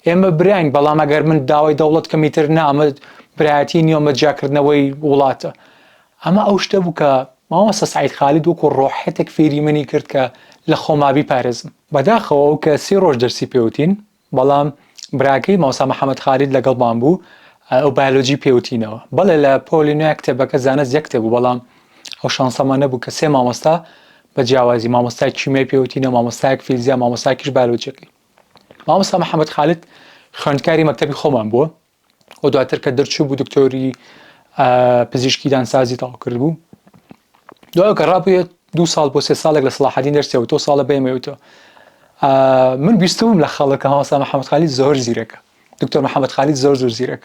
ئێمە براین بەڵام ئەگەر من داوای دەوڵەت کەم ئیتر نا ئەمە برایەتی نییە ئەمە جیاکردنەوەی وڵاتە ئەمە ئەو شتە بوو کە مامۆستا سەعید خالید وەکو ڕۆحەتێک فێری منی کرد کە لە خۆما بیپارێزم بەداخەوە ئەو کە سی ڕۆژ دەرسی پێوتین بەڵام براکەی مامۆستا محمد خالید لەگەڵمان بوو ئەو بایۆلۆجی پێوتینەوە بەڵێ لە پۆلی نوێ کتێبەکە زانست یەک کتێب بوو بەڵام ئەو شانسەمان نەبوو کە سێ مامۆستا بە جیاوازی مامۆستای کیمیای پێوتینە مامۆستایەک فیزیا مامۆستاکیش بایۆلۆجیەکەی مامۆستا محمد خالید خوێندکاری مەکتەبی خۆمان بووە و دواتر کە دەرچوو بوو دکتۆری پزیشکی دانسازی تەواو کرد بوو دوای کە ڕابێت دو ساڵ بۆ سێ ساڵێک لە سلاحدین دەرسەوە تۆ ساڵە بێمەوتەوە من بیستبووم لە خەڵەکە هاوسا محەممەد خالی زۆر زیرەکە دکتۆر محەممەد خالی زۆر زۆر زیرەک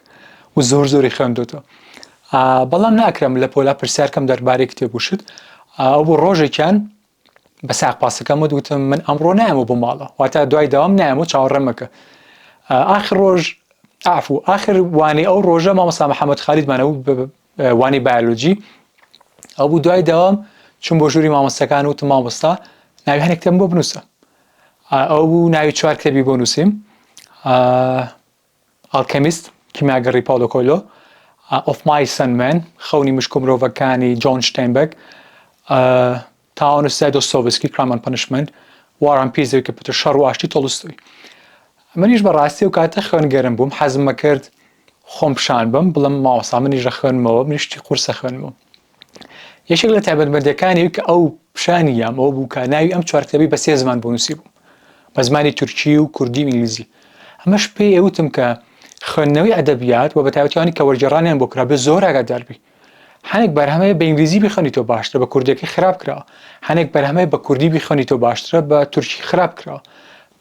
و زۆر زۆری خوێندۆتەوە بەڵام ناکرم لە پۆلا پرسیارکەم دەربارەی کتێبوشت ئەو بۆ ڕۆژێکیان بە ساق پاسەکەمت وتم من ئەمڕۆ نایەمەوە بۆ ماڵە واتە دوای داوام نایەمەوە چاوەڕێمەکە ئاخر ڕۆژ ئافو ئاخر وانەی ئەو ڕۆژە مامەسا محەممەد خالیدمانە بوو وانی بایلۆجی ئەو بوو دوای داوام چون بۆ ژووری مامۆستەکان و تم مامۆستا ناوی هەنێکتم بۆ بنووسە ئەو بوو ناوی چوار کتێبی بۆ نووسیم ئەڵکەمیست، کیمیاگەڕی پاولۆ کۆیلۆ، ئۆف مایس ئەند مێن، خەونی مشک و مرۆڤەکانی جۆن ستەینبێک، تاونسدای دۆستۆیڤسکی، کرام ئەند پەنشمێنت، وار ئەند پیس، زەوی کە پتر شەڕ و ئاشتی، تۆلستۆی. منیش بە ڕاستی ئەو کاتە خوێنگەرم بووم، حەزم ئەکرد خۆم پیشان بم، بڵێم مامۆستا منیش ئەخوێنمەوە، منیش شتی قورس ئەخوێنمەوە. یەکێک لە تایبەتمەندیەکانی ئەوی کە ئەو پیشانی یام ئەوە بوو کە ناوی ئەم چوار کتێبی بە سێ زمان بۆ نووسی بوو بە زمانی تورکی و کوردی و ئینگلیزی ئەمەش پێی ئەوتم کە خوێندنەوەی ئەدەبیات و بە تایبەتیانی کە وەرگێڕانیان بۆ کرابێ زۆر ئاگاداربی هەنێک بەرهەمەیە بە ئینگلیزی بخەنی تۆ باشترە بە کوردەکەی خراپ کرا هەنێک بەرهەمەیە بە کوردی بخەنی تۆ باشترە بە تورکی خراپ کرا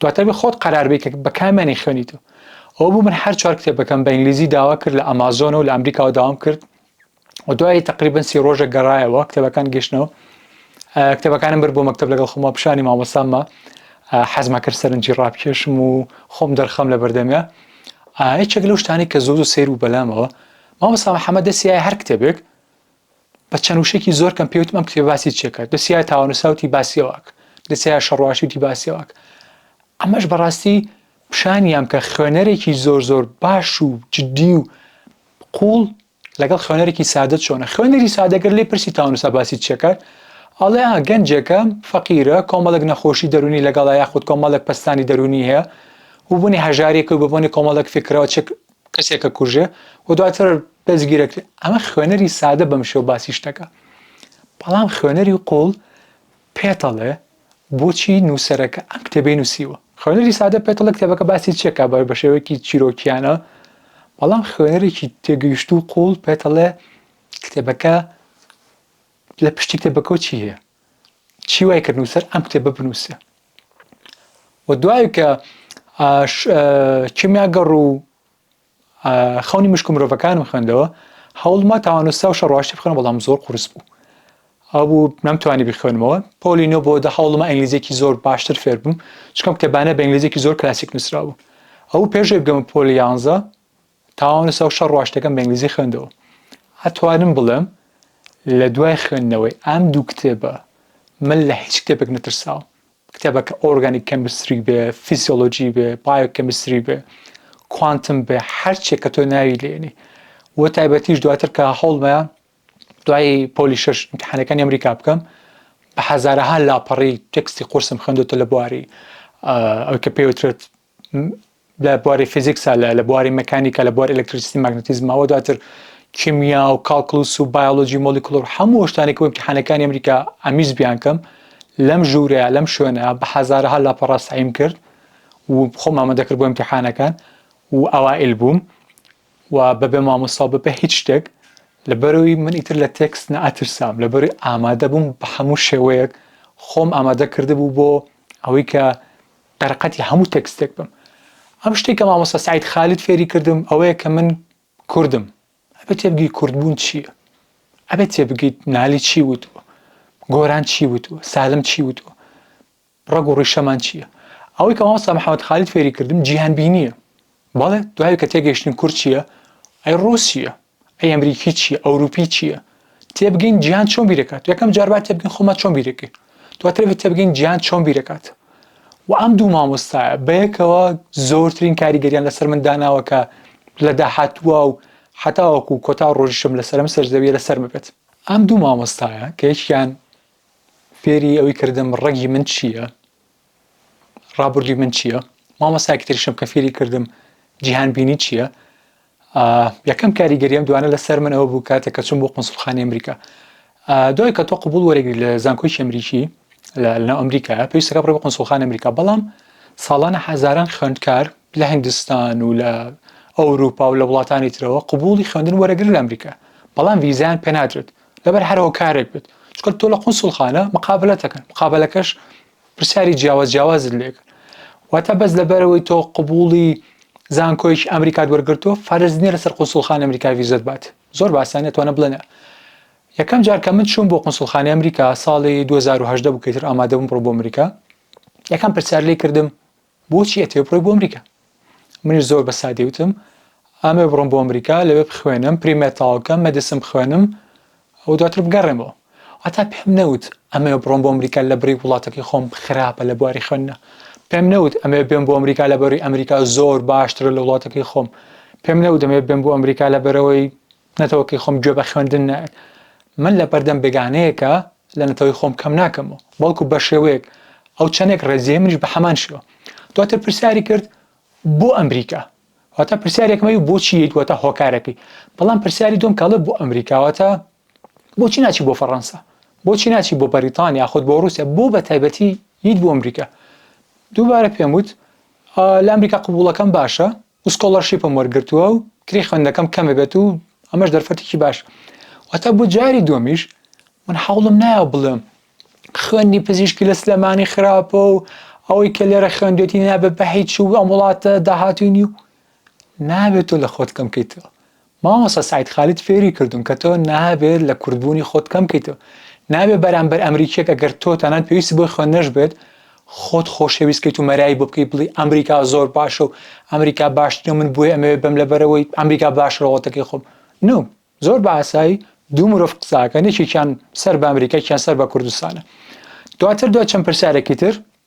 دواتر بە خۆت قەراربی کە بە کامیانی خوێنی تۆ ئەو بوو من هەر چوار کتێبەکەم بە ئینگلیزی داوا کرد لە ئەمازۆن و لە ئەمریکاوە داوام کرد و دوای تقریبن سی ڕۆژە گەڕایەوە کتێبەکان گەشتنەوە کتێبەکانم بر بۆ مەکتب لەگەڵ خۆمە پیشانی مامۆساممە حەزمە کرد سەرنجی ڕاپکێشم و خۆم دەرخەم لە بەردەمە هیچێک لەو شتانی کە زۆر و سیر و بەلامەوە مامۆسا محەممەد دەسیای هەر کتێبێک بە چەند وشێکی زۆر کەم پێوتمەم کتێب باسی چێکە دەسیای تاوانوساوتی باسیەوەک دەسیای شەڕواشیوتی باسیەوەک ئەمەش بەڕاستی پیشانیان کە خوێنەرێکی زۆر زۆر باش و جددی و قوڵ لەگەڵ خوێنەرێکی سادە چۆنە خوێنەری سادەگەر لێ پرسی تاونسا باسی چێکات ئەڵێ ئا گەنجێکە فەقیرە کۆمەڵێک نەخۆشی دەرونی لەگەڵ یاخود کۆمەڵێک پستانی دەرونی هەیە و بوونی هەژارێک و ببوونی کۆمەڵێک فکرەوە چێک کەسێکە کوژێ و دواتر دەستگیرەک ئەمە خوێنەری سادە بەم شێو باسی شتەکە بەڵام خوێنەری قوڵ پێتەڵێ بۆچی نووسەرەکە ئەم کتێبەی نووسیوە؟ خوێنەری سادە پێتەڵێ کتێبەکە باسی چی ئەکات بە شێوەیەکی چیرۆکییانە، بەڵام خوێنەرێکی تێگەیشتوو و قووڵ پێتەڵێ کتێبەکە لە پشتی کتێبەکەوە چی هەیە؟ چی وای کرد نووسەر ئەم کتێبە بنووسێ؟ و دوای کە کیمیاگەڕ و خەونی مشک و مرۆڤەکانم خوێندەوە هەوڵما تاوانوستا و شەڕواشی بخوێنم بەڵام زۆر قورس بوو ئەوبوو نەمتوانی بخوێنمەوە پۆلی نۆ بۆ دە هەوڵمە ئەنگلیزیێکی زۆر باشتر فێر بووم چکەم کتێبانە بە ئەنگلیزیێکی زۆر کلاسیک نووسراوە ئەو پێشێ بگەمە پۆلی یانزە تاوانوستا و شەڕواشتەکەم بە ئەنگلیزی خوێندەوە ئەتوانم بڵێم لە دوای خوێندنەوەی ئەم دوو کتێبە من لە هیچ کتێبێک نەترساوم کتێبەکە ئۆرگانیک کێمستری بێ، فیزیۆلۆجی بێ، بایۆ کێمستری بێ، کوانتم بێ، هەر چێ کە تۆ ناوی لێنی. بۆ تایبەتیش دواتر کە هەوڵمەیە دوای پۆلی شەش ئیمتیحانەکانی ئەمریکا بکەم، بە هەزارەها لاپەڕەی تێکستی قورسم خوێندۆتە لە بواری ئەوەی کە پێی وترێت لە بواری فیزیکسا لە لە بواری مەکانیکا لە بواری ئەلکتریستی مەگنتیزمەوە دواتر کیمیا و کاڵکلوس و بایۆلۆژی مۆلیکولۆر هەموو شتانێک وەک حانەکانی ئەمریکا ئەمیز بیانکەم لەم ژوورەیە لەم شوێنە بە حەزارەها لاپەڕە سعیم کرد و خۆم ئامادە کرد بۆ امتحانەکان و ئەوائل بووم و بەبێ مامۆستا بەبێ هیچ شتێک لەبەرەوەی من ئیتر لە تێکس نەئەترسام لەبەری ئامادە بووم بە هەموو شێوەیەک خۆم ئامادە کردبوو بۆ ئەوەی کە قەرەقەتی هەموو تێکستێک بم ئەم شتەی کە مامۆستا سەعید خالید فێری کردم ئەوەیە کە من کوردم ئەبێ تێبگەی کوردبوون چییە ئەبێ تێبگەیت نالی چی وتووە گۆران چی وتووە سالم چی وتووە ڕەگ و ڕیشەمان چییە ئەوەی کە مامۆستا محەممەد خالید فێری کردم جیهان بینییە بەڵێ دوای کە تێگەیشتین کورد چییە ئەی ڕووسیە ئەی ئەمریکی چیە ئەوروپی چیە تێبگەین جیهان چۆن بیرەکات یەکەم جار با تێبگەین خۆمان چۆن بیرەکەین دواتر بە تێبگەین جیهان چۆن بیرەکات و ئەم دوو مامۆستایە بەیەکەوە زۆرترین کاریگەریان لەسەر من داناوە کە لە داهاتووا و حەتاوەکو کۆتا ڕۆژیشم لەسەر ئەم سەر زەویە لەسەرمە بێت ئەم دوو مامۆستایە کە یەکیان فێری ئەوەی کردم ڕەگی من چیە ڕابوردوی من چیە مامۆستا کتریشم کە فیری کردم جیهان بینی چیە یەکەم کاریگەری ئەم دوانە لەسەر من ئەوە بوو کاتێک کە چون بۆ قنسڵخانی ئەمریکا دوای کە تۆ قوبول وەرەگری لە زانکۆی ئەمریکی لەناو ئەمریکا پێویستەکە بڕێ بە قنسڵخان ئەمریکا بەڵام ساڵانە حەزاران خوێندکار لە هندستان و لە ئەوروپا و لە وڵاتانی ترەوە قوبولی خوێندن وەرەگر لە ئەمریکا بەڵام ویزیان پێنادرێت لەبەر هەرەوە کارێک بێت چکە تۆ لە قنسڵخانە مقابلەتەکەن مقابلەکەش پرسیاری جیاواز جیاوازت لێکرد واتە بەس لەبەرەوەی تۆ قبولی زانکۆیش ئەمریکات وەرگرتووە فەرز نیە لەسەر قوسڵخان ئەمریکا ویزت بات زۆر باسانە توانە بڵێنە یەکەم جار کە من چوون بۆ قنسڵخانی ئەمریکا ساڵی 2010 بکەیتر ئامادەبووم بڕۆ بۆ ئەمریکا یەکەم پرسیار لێ کردم بۆچی ئەتەوێ بڕۆی بۆ ئەمریکا؟ منیش زۆر بە سادی وتم ئامەوێ بڕۆم بۆ ئەمریکا لەوێ بخوێنم پریمێت تەواو بکەم مەدسن بخوێنم و دواتر بگەڕێمەوە واتا پێم نەوت ئەمەوێ بڕۆم بۆ ئەمریکا لە بڕی وڵاتەکەی خۆم خراپە لە بواری خوێندنا پێم نەوت ئەمەوێ بێم بۆ ئەمریکا لە بەروی ئەمریکا زۆر باشترە لە وڵاتەکەی خۆم پێم نەوت ئەمەوێ بێم بۆ ئەمریکا لە بەرەوەی نەتەوەکەی خۆم گوێ بە خوێندن نایەت، من لە بەردەم بێگانەیەکا لە نەتەوەی خۆم کەم ناکەمەوە، بەڵکو بە شێوەیەک ئەو چەندێک ڕێزیە منیش بە هەمان شێوە. دواتر پرسیاری کرد بۆ ئەمریکا؟ واتە پرسیارێکم ئەوی بۆچی یەیت واتە هۆکارەکەی، بەڵام پرسیاری دووەم کە ئەڵێ بۆ ئەمریکا واتە بۆچی ناچی بۆ فەڕەنسا؟ بۆچی ناچی بۆ بەریتانیا یاخود بۆ ڕووسیا؟ بۆ بە تایبەتی یەیت بۆ ئەمریکا؟ دووبارە پێم وت لە ئەمریکا قبووڵەکەم باشە، و سکۆڵەرشیپم وەرگرتووە و کرێی خوێندنەکەم کەمە بێت و ئەمەش دەرفەتێکی باشە واتە بۆ جاری دووەمیش من حەوڵم نایە بڵێم خوێندی پزیشکی لە سلێمانی خراپە و ئەوەی کە لێرە خوێندێتی نابێت بە هیچ و ئەم وڵاتە داهاتوی نی و نابێت تۆ لە خۆت کەم کەیتەوە مامۆستا سەعید خالید فێری کردووم کە تۆ نابێت لە کوردبوونی خۆت کەم بکەیتەوە نابێت بەرامبەر ئەمریکیەک ئەگەر تۆ تەنانەت پێویستی بۆی خوێندنەش بێت خۆت خۆشەویست کەیت و مەرایی بۆ بکەیت بڵی ئەمریکا زۆر باشە و ئەمریکا باشترە من بۆی ئەمەوێت بەم لەبەرەوەی ئەمریکا باشە وڵاتەکەی خۆم نو زۆر بە ئاسایی دوو مرۆڤ قساکەن یەکێکیان سەر بە ئەمریکا یەکیان سەر بە کوردستانە دواتر دوای چەند پرسیارێکی تر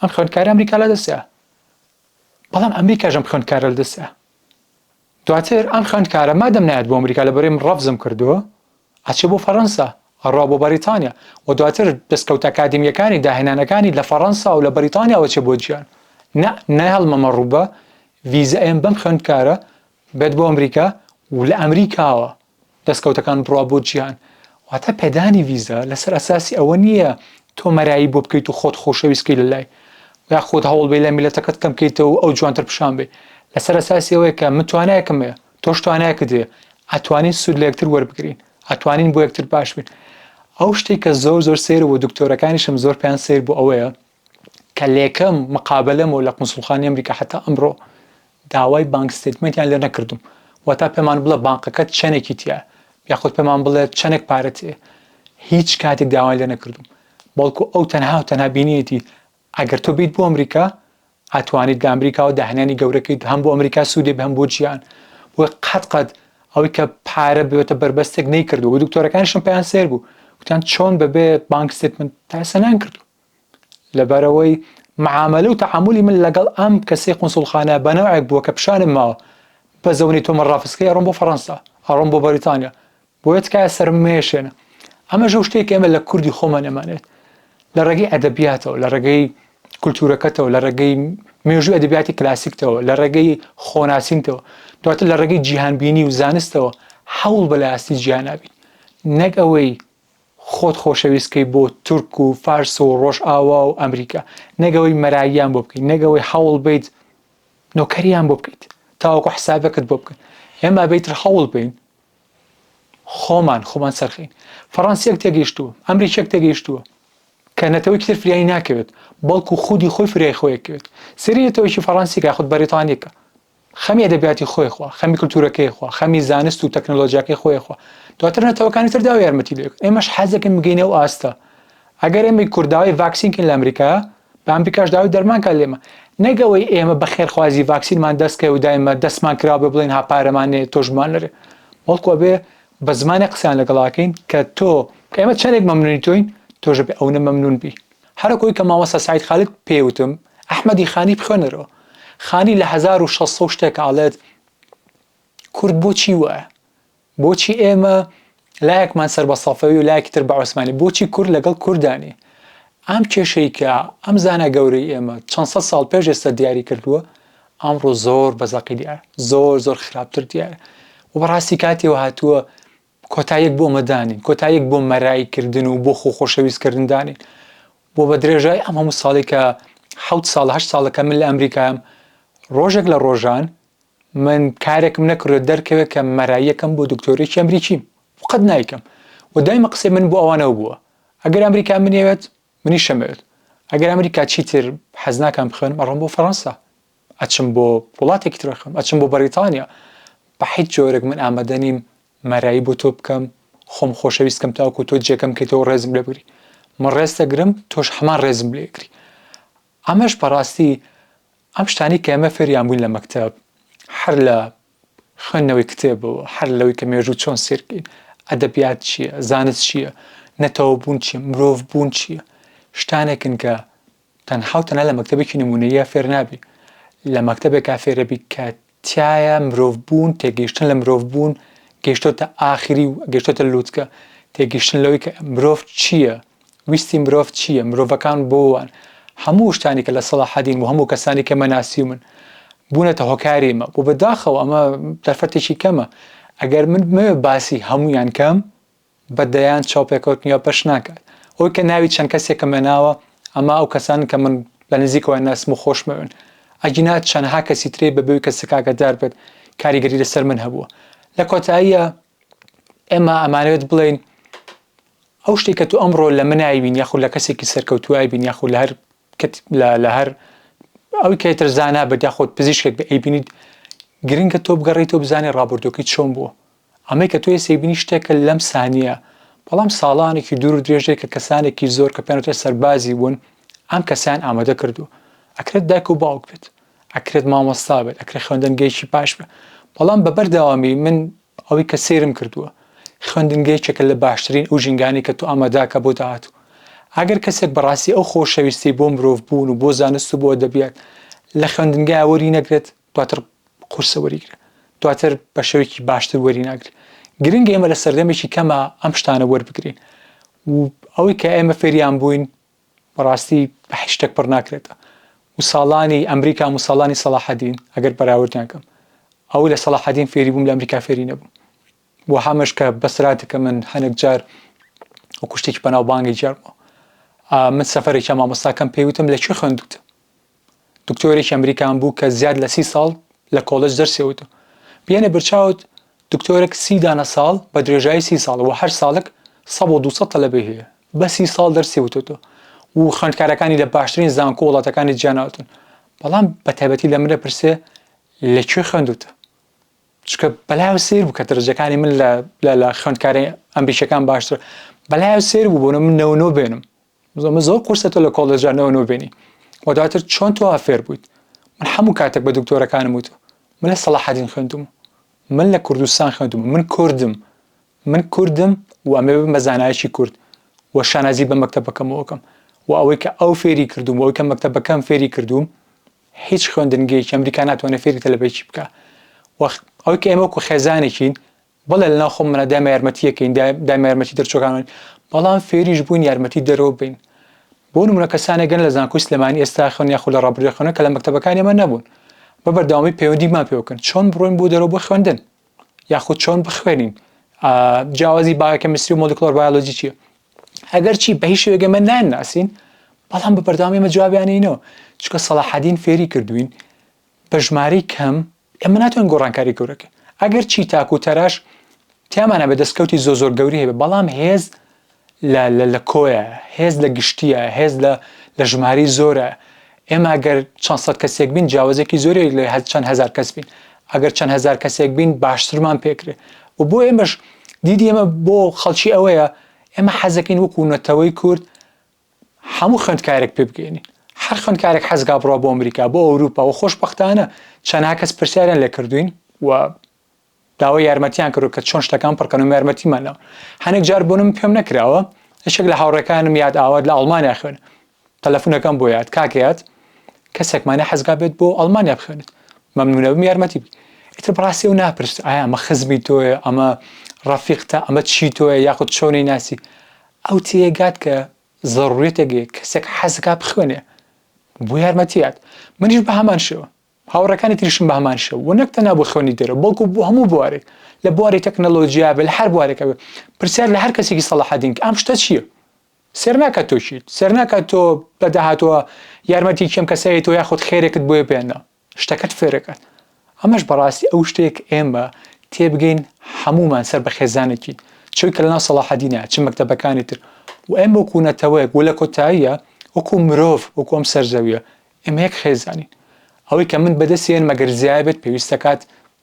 ئەم خوێندکارە ئەمریکا لە دەست دا بەڵام ئەمریکاش ئەم خوێندکارە لە دەست دا دواتر ئەم خوێندکارە مادەم نایەت بۆ ئەمریکا لە بەرێم ڕەفزم کردووە ئەچێ بۆ فەڕەنسا ئەڕوا بۆ بەریتانیا و دواتر دەستکەوت ئەکادمیەکانی داهێنانەکانی لە فەڕەنسا و لە بەریتانیاوە چێ بۆ جیان نە نایهڵمەمە ڕووبە ڤیزە ئێم بەم خوێندکارە بێت بۆ ئەمریکا و لە ئەمریکاوە دەستکەوتەکان بڕوا بۆ جیهان. واتە پێدانی ڤیزا لەسەر ئەساسی ئەوە نییە تۆ مەرایی بۆ بکەیت و خۆت خۆشەویست بکەیت لەلای، یاخود هەوڵ بەی لە میللەتەکەت کەم بکەیتەوە و ئەو جوانتر پیشان بەیت، لەسەر ئەساسی ئەوەیە کە من توانایەکم هەیە، تۆش توانایەکت هەیە، ئەتوانین سوود لە یەکتر وەربگرین، ئەتوانین بۆ یەکتر باش بین. ئەو شتەی کە زۆر زۆر سەیرە و دکتۆرەکانیشم زۆر پێیان سەیر بوو ئەوەیە، کە لەیەکەم مقابەلەمەوە لە قونسوڵخانەی ئەمریکا هەتا ئەمڕۆ داوای بانک ستەیتمەنتیان لێ نەکردووم، واتە پێمان بڵێ بانقەکەت چەنێکی تیایە یاخود پێمان بڵێ چەنێک پارەت هەیە، هیچ کاتێک داوایان لێ نەکردووم، بەڵکو ئەو تەنها و تەنها بینیەتی ئەگەر تۆ بێیت بۆ ئەمریکا ئەتوانیت لە ئەمریکاوە داهێنانی گەورە کەیت هەم بۆ ئەمریکا سوودی هەبێ هەم بۆ جیهان، بۆیە قەت قەت ئەوەی کە پارە بێتە بەربەستێک نەیکردووە و دکتۆرەکانیشم پێیان سەیر بوو گوتیان چۆن بەبێ بانک ستەیتمەنت تا ئێستا نایانکردووە. لەبەرئەوەی معامەلە و تەعامولی من لەگەڵ ئەم کەسەی قونسوڵخانە بەنەوعێک بووە کە پیشانم ماوە بە زەونی تۆ من ڕافسکەی ئەڕۆم بۆ فەڕەنسا، ئەڕۆم بۆ بەریتانیا، بۆیە تکایە سەرم مەیەشێنە. ئەمەش ئەو شتەیە کە ئێمە لە کوردی خۆمان ئەمانەوێت. لە ڕێگەی ئەدەبیاتەوە، لە ڕێگەی کولتوورەکەتەوە، لە ڕێگەی مێژووی ئەدەبیاتی کلاسیکتەوە، لە ڕێگەی خۆناسینتەوە، دواتر لە ڕێگەی جیهانبینی و زانستەوە هەوڵ بە لایەنستی جیهانا بیت، نەک ئەوەی خۆت خۆشەویست کەی بۆ تورک و فارس و ڕۆژئاوا و ئەمریکا نەک ئەوەی مەراییان بۆ بکەی نەک ئەوەی هەوڵ بەیت نۆکەریان بۆ بکەیت تاوەکو حسابەکەت بۆ بکەن ئێمە ئەبێت تر هەوڵ بین خۆمان خۆمان سەرخین فەڕەنسیەک تێگەیشتووە ئەمریکیەک تێگەیشتووە کە نەتەوەی تر فریای ناکەوێت بەڵکو خودی خۆی فریای خۆیەکەوێت سری نەتەوەیکی فەڕەنسیکە خود بەریتانیەکە خەمی ئەدەبیاتی خۆی خوا خەمی کلتورەکەی خوا خەمی زانست و تەکنەلۆژیاکەی خۆی خوا دواتر نەتەوەکانی تر داو یارمەتی لێک ئێمەش حەزەکەن بگەینە و ئاستە ئەگەر ئێمەی کورداوی ڤاکسینکن لە ئەمریکا بە ئەمریکاش داوای دەرمانکە لێمە نەگەوەی ئێمە بە خێرخوازی ڤاکسینمان دەستکەوێ و دایمە دەستمان کراوە بێ بڵێن هاپارەمانێ تۆشمان لەرێ بەڵکو ئەبێ بە زمانێک قسەیان لەگەڵاکەین کە تۆ ئێمە چەندێک مەمنونی تۆین تۆش بێ ئەونە مەمنون بی هەرکۆی کە مامۆستا سەعید خالید پێی وتم ئەحمەدی خانی بخوێنەرەوە خانی لە هەزار و شەش سەد و شتێک ئەڵێت کورد بۆچی وایە بۆچی ئێمە لایەکمان سەر بە سەفەوی و لایەکی تر بە عوسمانی بۆچی کورد لەگەڵ کوردانی ئەم کێشەی کە ئەم زانە گەورەی ئێمە چەند سەد ساڵ پێش ئێستا دیاری کردووە ئەمڕۆ زۆر بەزەقی دیارە زۆر زۆر خراپتر دیارە و بەڕاستی کاتێەوە هاتووە کۆتاییەک بۆ مە دانێن، کۆتاییەک بۆ مەرای کردن و بۆ خۆ خۆشەویست کردن دانێن و بە درێژای ئەم هەموو ساڵەی کە حەوت ساڵە هەشت ساڵە کە من لە ئەمریکایەم ڕۆژێک لە ڕۆژان من کارێکم نەکردوە دەرکەوێت کە مەراییەکەم بۆ دکتۆرێکی ئەمریکیم و قەت نایکەم و دایمە قسەی من بۆ ئەوانەوە بووە ئەگەر ئەمریکا منیەوێت منیش شەمێل ئەگەر ئەمریکا چیتر حەز ناکەم بخوێنم ئەڕۆم بۆ فەڕەنسا ئەچم بۆ وڵاتێکی تر ئەخوێنم ئەچم بۆ بەڕیتانیا بە حیچ جۆرێک من ئامادە نیم مەرایی بۆ تۆ بکەم خۆم خۆشەویست کەم تاوەکو تۆ جێکەم کەیتەوە ڕێزم لێ بگری من ڕێز دەگرم تۆش هەمان ڕێزم لێ گری ئەمەش بەڕاستی ئەم شتانەی کە ئێمە فێریان بووین لە مەکتەب هەر لە خوێندنەوەی کتێبەوە، هەر لەوەی کە مێژوو چۆن سەیربکەین، ئەدەبیات چییە، زانست چییە، نەتەوەبوون چییە، مرۆڤبوون چییە، شتانێکن کە تەنها و تەنها لە مەکتەبێکی نموونەییە فێر نابی، لە مەکتەبێکا فێرەبی کە تیایا مرۆڤبوون، تێگەیشتن لە مرۆڤبوون گەیشتۆتە ئاخری و گەیشتۆتە لووتکە، تێگەیشتن لەوەی کە مرۆڤ چییە، ویستی مرۆڤ چییە؟ مرۆڤەکان بۆ وان؟ هەموو شتانی کە لە سەڵاحەدین و هەموو کەسانی کە مە ناسیومن بوونەتە هۆکاری مە و بە داخەوە ئەمە دەرفەتێکی کەمە ئەگەر من بمەوێ باسی هەموویان کەم بە دەیان چاوپێکەوتنی ئەو پەش ناکات ئەوەی کە ناوی چەند کەسێکم هێ ناوە ئەمە ئەو کەسانن کە من لە نزیکەوە ناسم و خۆشمەوێن ئەگینا چەندها کەسی ترێ بە بێوی کەسەکە ئاگادار بێت کاریگەری لەسەر من هەبووە لە کۆتاییە ئێمە ئەمانەوێت بڵێین ئەو شتەی کە تۆ ئەمڕۆ لە من ئەیبینی یاخود لە کەسێکی سەرکەوتوو ئەیبینی یاخود لە هەر لە هەر ئەوی کە ئیتر زانا بێت یاخود پزیشکێک بە ئەیبینیت گرنگە تۆ بگەڕێیتەوە بزانێ ڕابردووەکەی چۆن بووە ئەمەی کە تۆ ئێستا ئەیبینی شتێکە لەم سانییە بەڵام ساڵانێکی دوور و درێژەیە کە کەسانێکی زۆر کە پێیان وترێ سەربازی بوون ئەم کەسەیان ئامادە کردووە ئەکرێت دایک و باوک بێت ئەکرێت مامۆستا بێت ئەکرێت خوێندنگەیەکی باش بێت بەڵام بە بەردەوامی من ئەوەی کە سەیرم کردووە خوێندنگە یەکێکە لە باشترین ئەو ژینگانەی کە تۆ ئامادەکە بۆ داهاتوو ئەگەر کەسێک بەڕاستی ئەو خۆشەویستی بۆ مرۆڤ بوون و بۆ زانست و بۆ ئەدەبیات لە خوێندنگایا وەری نەگرێت دواتر قورسە وەریگرێت دواتر بە شێوەیەکی باشتر وەری ناگرێت گرنگە ئێمە لە سەردەمێکی کەما ئەم شتانە وەربگرین و ئەوەی کە ئێمە فێریان بووین بەڕاستی هیچ شتەک پڕ ناکرێت و ساڵانی ئەمریکام و ساڵانی سەڵاحەدین ئەگەر بەراوردیان کەم ئەوەی لە سەڵاحەدین فێری بووم لە ئەمریکا فێری نەبووم بۆ هەمەش کە بەسراتەکە من هەنێک جار وەکو شتێکی بەناوبانگی جار بووە من سەفەرێکیا مامۆستاکەم پێی وتم لە کوێ خوێندووتە دکتۆرێکی ئەمریکان بوو کە زیاد لە سی ساڵ لە کۆڵێج دەرسی وت و بینە برچاوت دکتۆرەک سی دانە ساڵ بە درێژایی سی ساڵ وە هەر ساڵک سەد و دووسەد تەلەبەی هەیە بە سی ساڵ دەرسی وتۆتۆ و خوێندکارەکانی لە باشترین زانکۆ وڵاتەکانی جیا ناوتون بەڵام بە تایبەتی لە من ئەپرسێ لە کوێ خوێندوتە چکە بەلایەوە سیر بوو کە درجەکانی من لە لە خوێندکاری ئەمریکیەکان باشتر بەلایەوە سیر بوو بۆنە من نەوە نۆ بێنم زۆمە زۆر قورسە تۆ لە کۆڵێژا نەوە نۆ بێنی و دواتر چۆن تۆ ئافێر بوویت من هەموو کاتێک بە دکتۆرەکانم وتو من لە سەڵاحەدین خوێندوم من لە کوردستان خوێندوم من کوردم من کوردم و ئەمێ بم بە زانایەکی کورد و شانازی بە مەکتەبەکەمەوەکەم و ئەوەی کە ئەو فێری کردوم ئەوەی کە مەکتەبەکەم فێری کردوم هیچ خوێندنگەیەکی ئەمریکا ناتوانێت فێری تەلەبەیەکی بکە وەخ ئەوەی کە ئێمە وەکو خێزانێکین بەڵێ لەناو خۆمانا دایمە یارمەتی یەکەین دایمە یارمەتی دەرچوەکانین بەڵام فێریش بوین یارمەتی دەرەوە بین بۆ نمونە کەسانێک گەن لە زانکۆی سلێمانی ئێستا خوێن یاخو لە ڕابردوێ خوێنن کە لە مەکتەبەکانی ئەمە نەبون بە بەردەوامی پەیوەندیمان پێ بکەن چۆن بڕۆین بۆ دەرەوە بۆ خوێندن یاخود چۆن بخوێنین جیاوازی باەکە مسری و مۆلیکلۆر بایۆلۆجی چیە ئەگەر چی بە هیچ شوێک ئەمە نان ناسین بەڵام بە بەردەوامی ئمە جوابیانینەوە چکە سەڵاحدین فێری کردوین بە ژمارەی کەم ئێمە ناتوانین گۆڕانکاری گەورە بکەین، ئەگەر چی تاک و تەراش تیامان هەبێت، دەستکەوتی زۆر زۆر گەورەی هەبێت، بەڵام هێز لە لە کۆیە، هێز لە گشتییە، هێز لە لە ژمارەی زۆرە، ئێمە ئەگەر چەند سەد کەسێک بین جیاوازییەکی زۆری لە لە چەند هەزار کەس بین، ئەگەر چەند هەزار کەسێک بین باشترمان پێ کرێ و بۆ ئێمەش دیدی ئێمە بۆ خەڵکی ئەوەیە ئێمە حەز دەکەین وەکوو نەتەوەی کورد هەموو خوێندکارێک پێ بگەینین. هەر خوێندکارێک حەزگا بڕوا بۆ ئەمریکا، بۆ ئەوروپا و خۆشبەختانە چەنها کەس پرسیاریان لێ کردووین و داوای یارمەتیان کردووە کە چۆن شتەکان پڕ کەن و یارمەتیمان ناوە. هەنێک جار بۆ من پێم نەکراوە، یەکێک لە هاوڕێکانم یاد ئاوات لە ئەڵمانیا خوێنە. تەلەفون ئەکەم بۆ یاد، کاک یاد کەسێکمانە حەزگا بێت بۆ ئەڵمانیا بخوێنێت. مەمنون ئەبم یارمەتی بکەی. ئیتر بەڕاستی ئەو ناپرسێت ئایا ئەمە خزمی تۆیە، ئەمە ڕەفیقتە، ئەمە چی تۆیە یاخود چۆنی ناسی. ئەو تێیگات کە زەروریەتێک هەیە کەسێک حەزدەکات بخوێنێ بۆ یارمەتیات منیش بە هەمان شێوە هاوڕێکانی تریشم بە هەمان شێوە وە نەک تەنها بۆ خوێندنی دەرەوە بەڵکو بۆ هەموو بوارێک لە بواری تەکنەلۆجیا بێ لە هەر بوارێکە بێ پرسیار لە هەر کەسێکی سەلاحەدین کە ئەم شتە چییە سێر ناکات تۆ چیت سێر ناکات تۆ لە داهاتووە یارمەتی کێم کەسایەتەوە یاخود خێرێکت بۆیە بێنە شتەکەت فێرەکات ئەمەش بەڕاستی ئەو شتەیە کە ئێمە تێبگەین هەموومان سەر بە خێزانێکین چۆن کە لەناو سەڵاحەدینە چ مەکتەبەکانی تر و ئێمە وەکو نەتەوەیەک و لە کۆتاییا وەکو مرۆڤ وەکو ئەم سەر زەویە ئێمە یەک خێزانین ئەوەی کە من بەدەستی هێنمە گەر زیایە بێت پێویست دەکات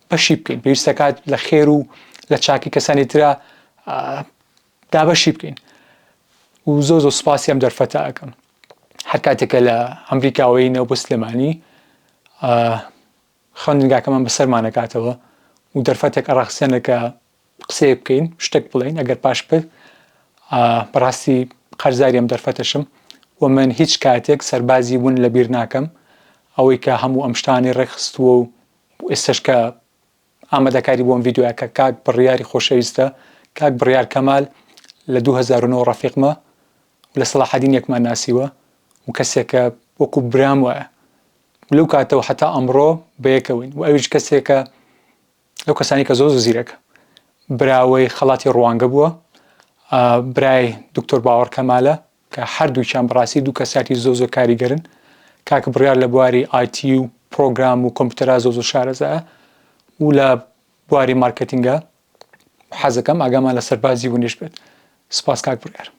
بەشی بکەین پێویست دەکات لە خێر و لە چاکی کەسانی ترا دابەشی بکەین و زۆر زۆر سوپاسی ئەم دەرفەتە ئەکەم هەر کاتێکە لە ئەمریکاوەینەوە بۆ سلێمانی خوێندنگاکەمان بەسەرمانەکاتەوە و دەرفەتێک ئەڕاخسێنە کە قسەیە بکەین شتێک بڵین ئەگەر پاش پر بەڕاستی قەرزاریم دەرفەتەشم و من هیچ کاتێک سەربازی ون لەبیر ناکەم ئەوەی کە هەموو ئەم شتانی ڕێکخستووە و ئێستش کە ئامادەکاری بۆم ڤیدیۆیەکە کاک بڕیاری خۆشەویستە کاک بڕیار کەمال لە دوو هەزار و نۆ ڕەفیقمە و لە سەڵاحەدین یەکمان ناسیوە و کەسێکە وەکو برام وایە و لەو کاتەوە هەتا ئەمڕۆ بەیەکەوەین و ئەویش کەسێکە لەو کەسانی کە زۆر زۆر زیرەکە براوەی خەڵاتی ڕوانگە بووە برای دکتۆر باوەڕ کەمالە کە هەردووکیان بەڕاستی دوو کەسیاتی زۆر زۆر کاریگەرن کاک بڕیار لە بواری IT و پڕۆگرام و کۆمپیوتەرا زۆر زۆر شارەزایە و لە بواری مارکێتینگا حەزەکەم ئاگامان لە سەربازی ونیش بێت سپاس کاک بڕیار.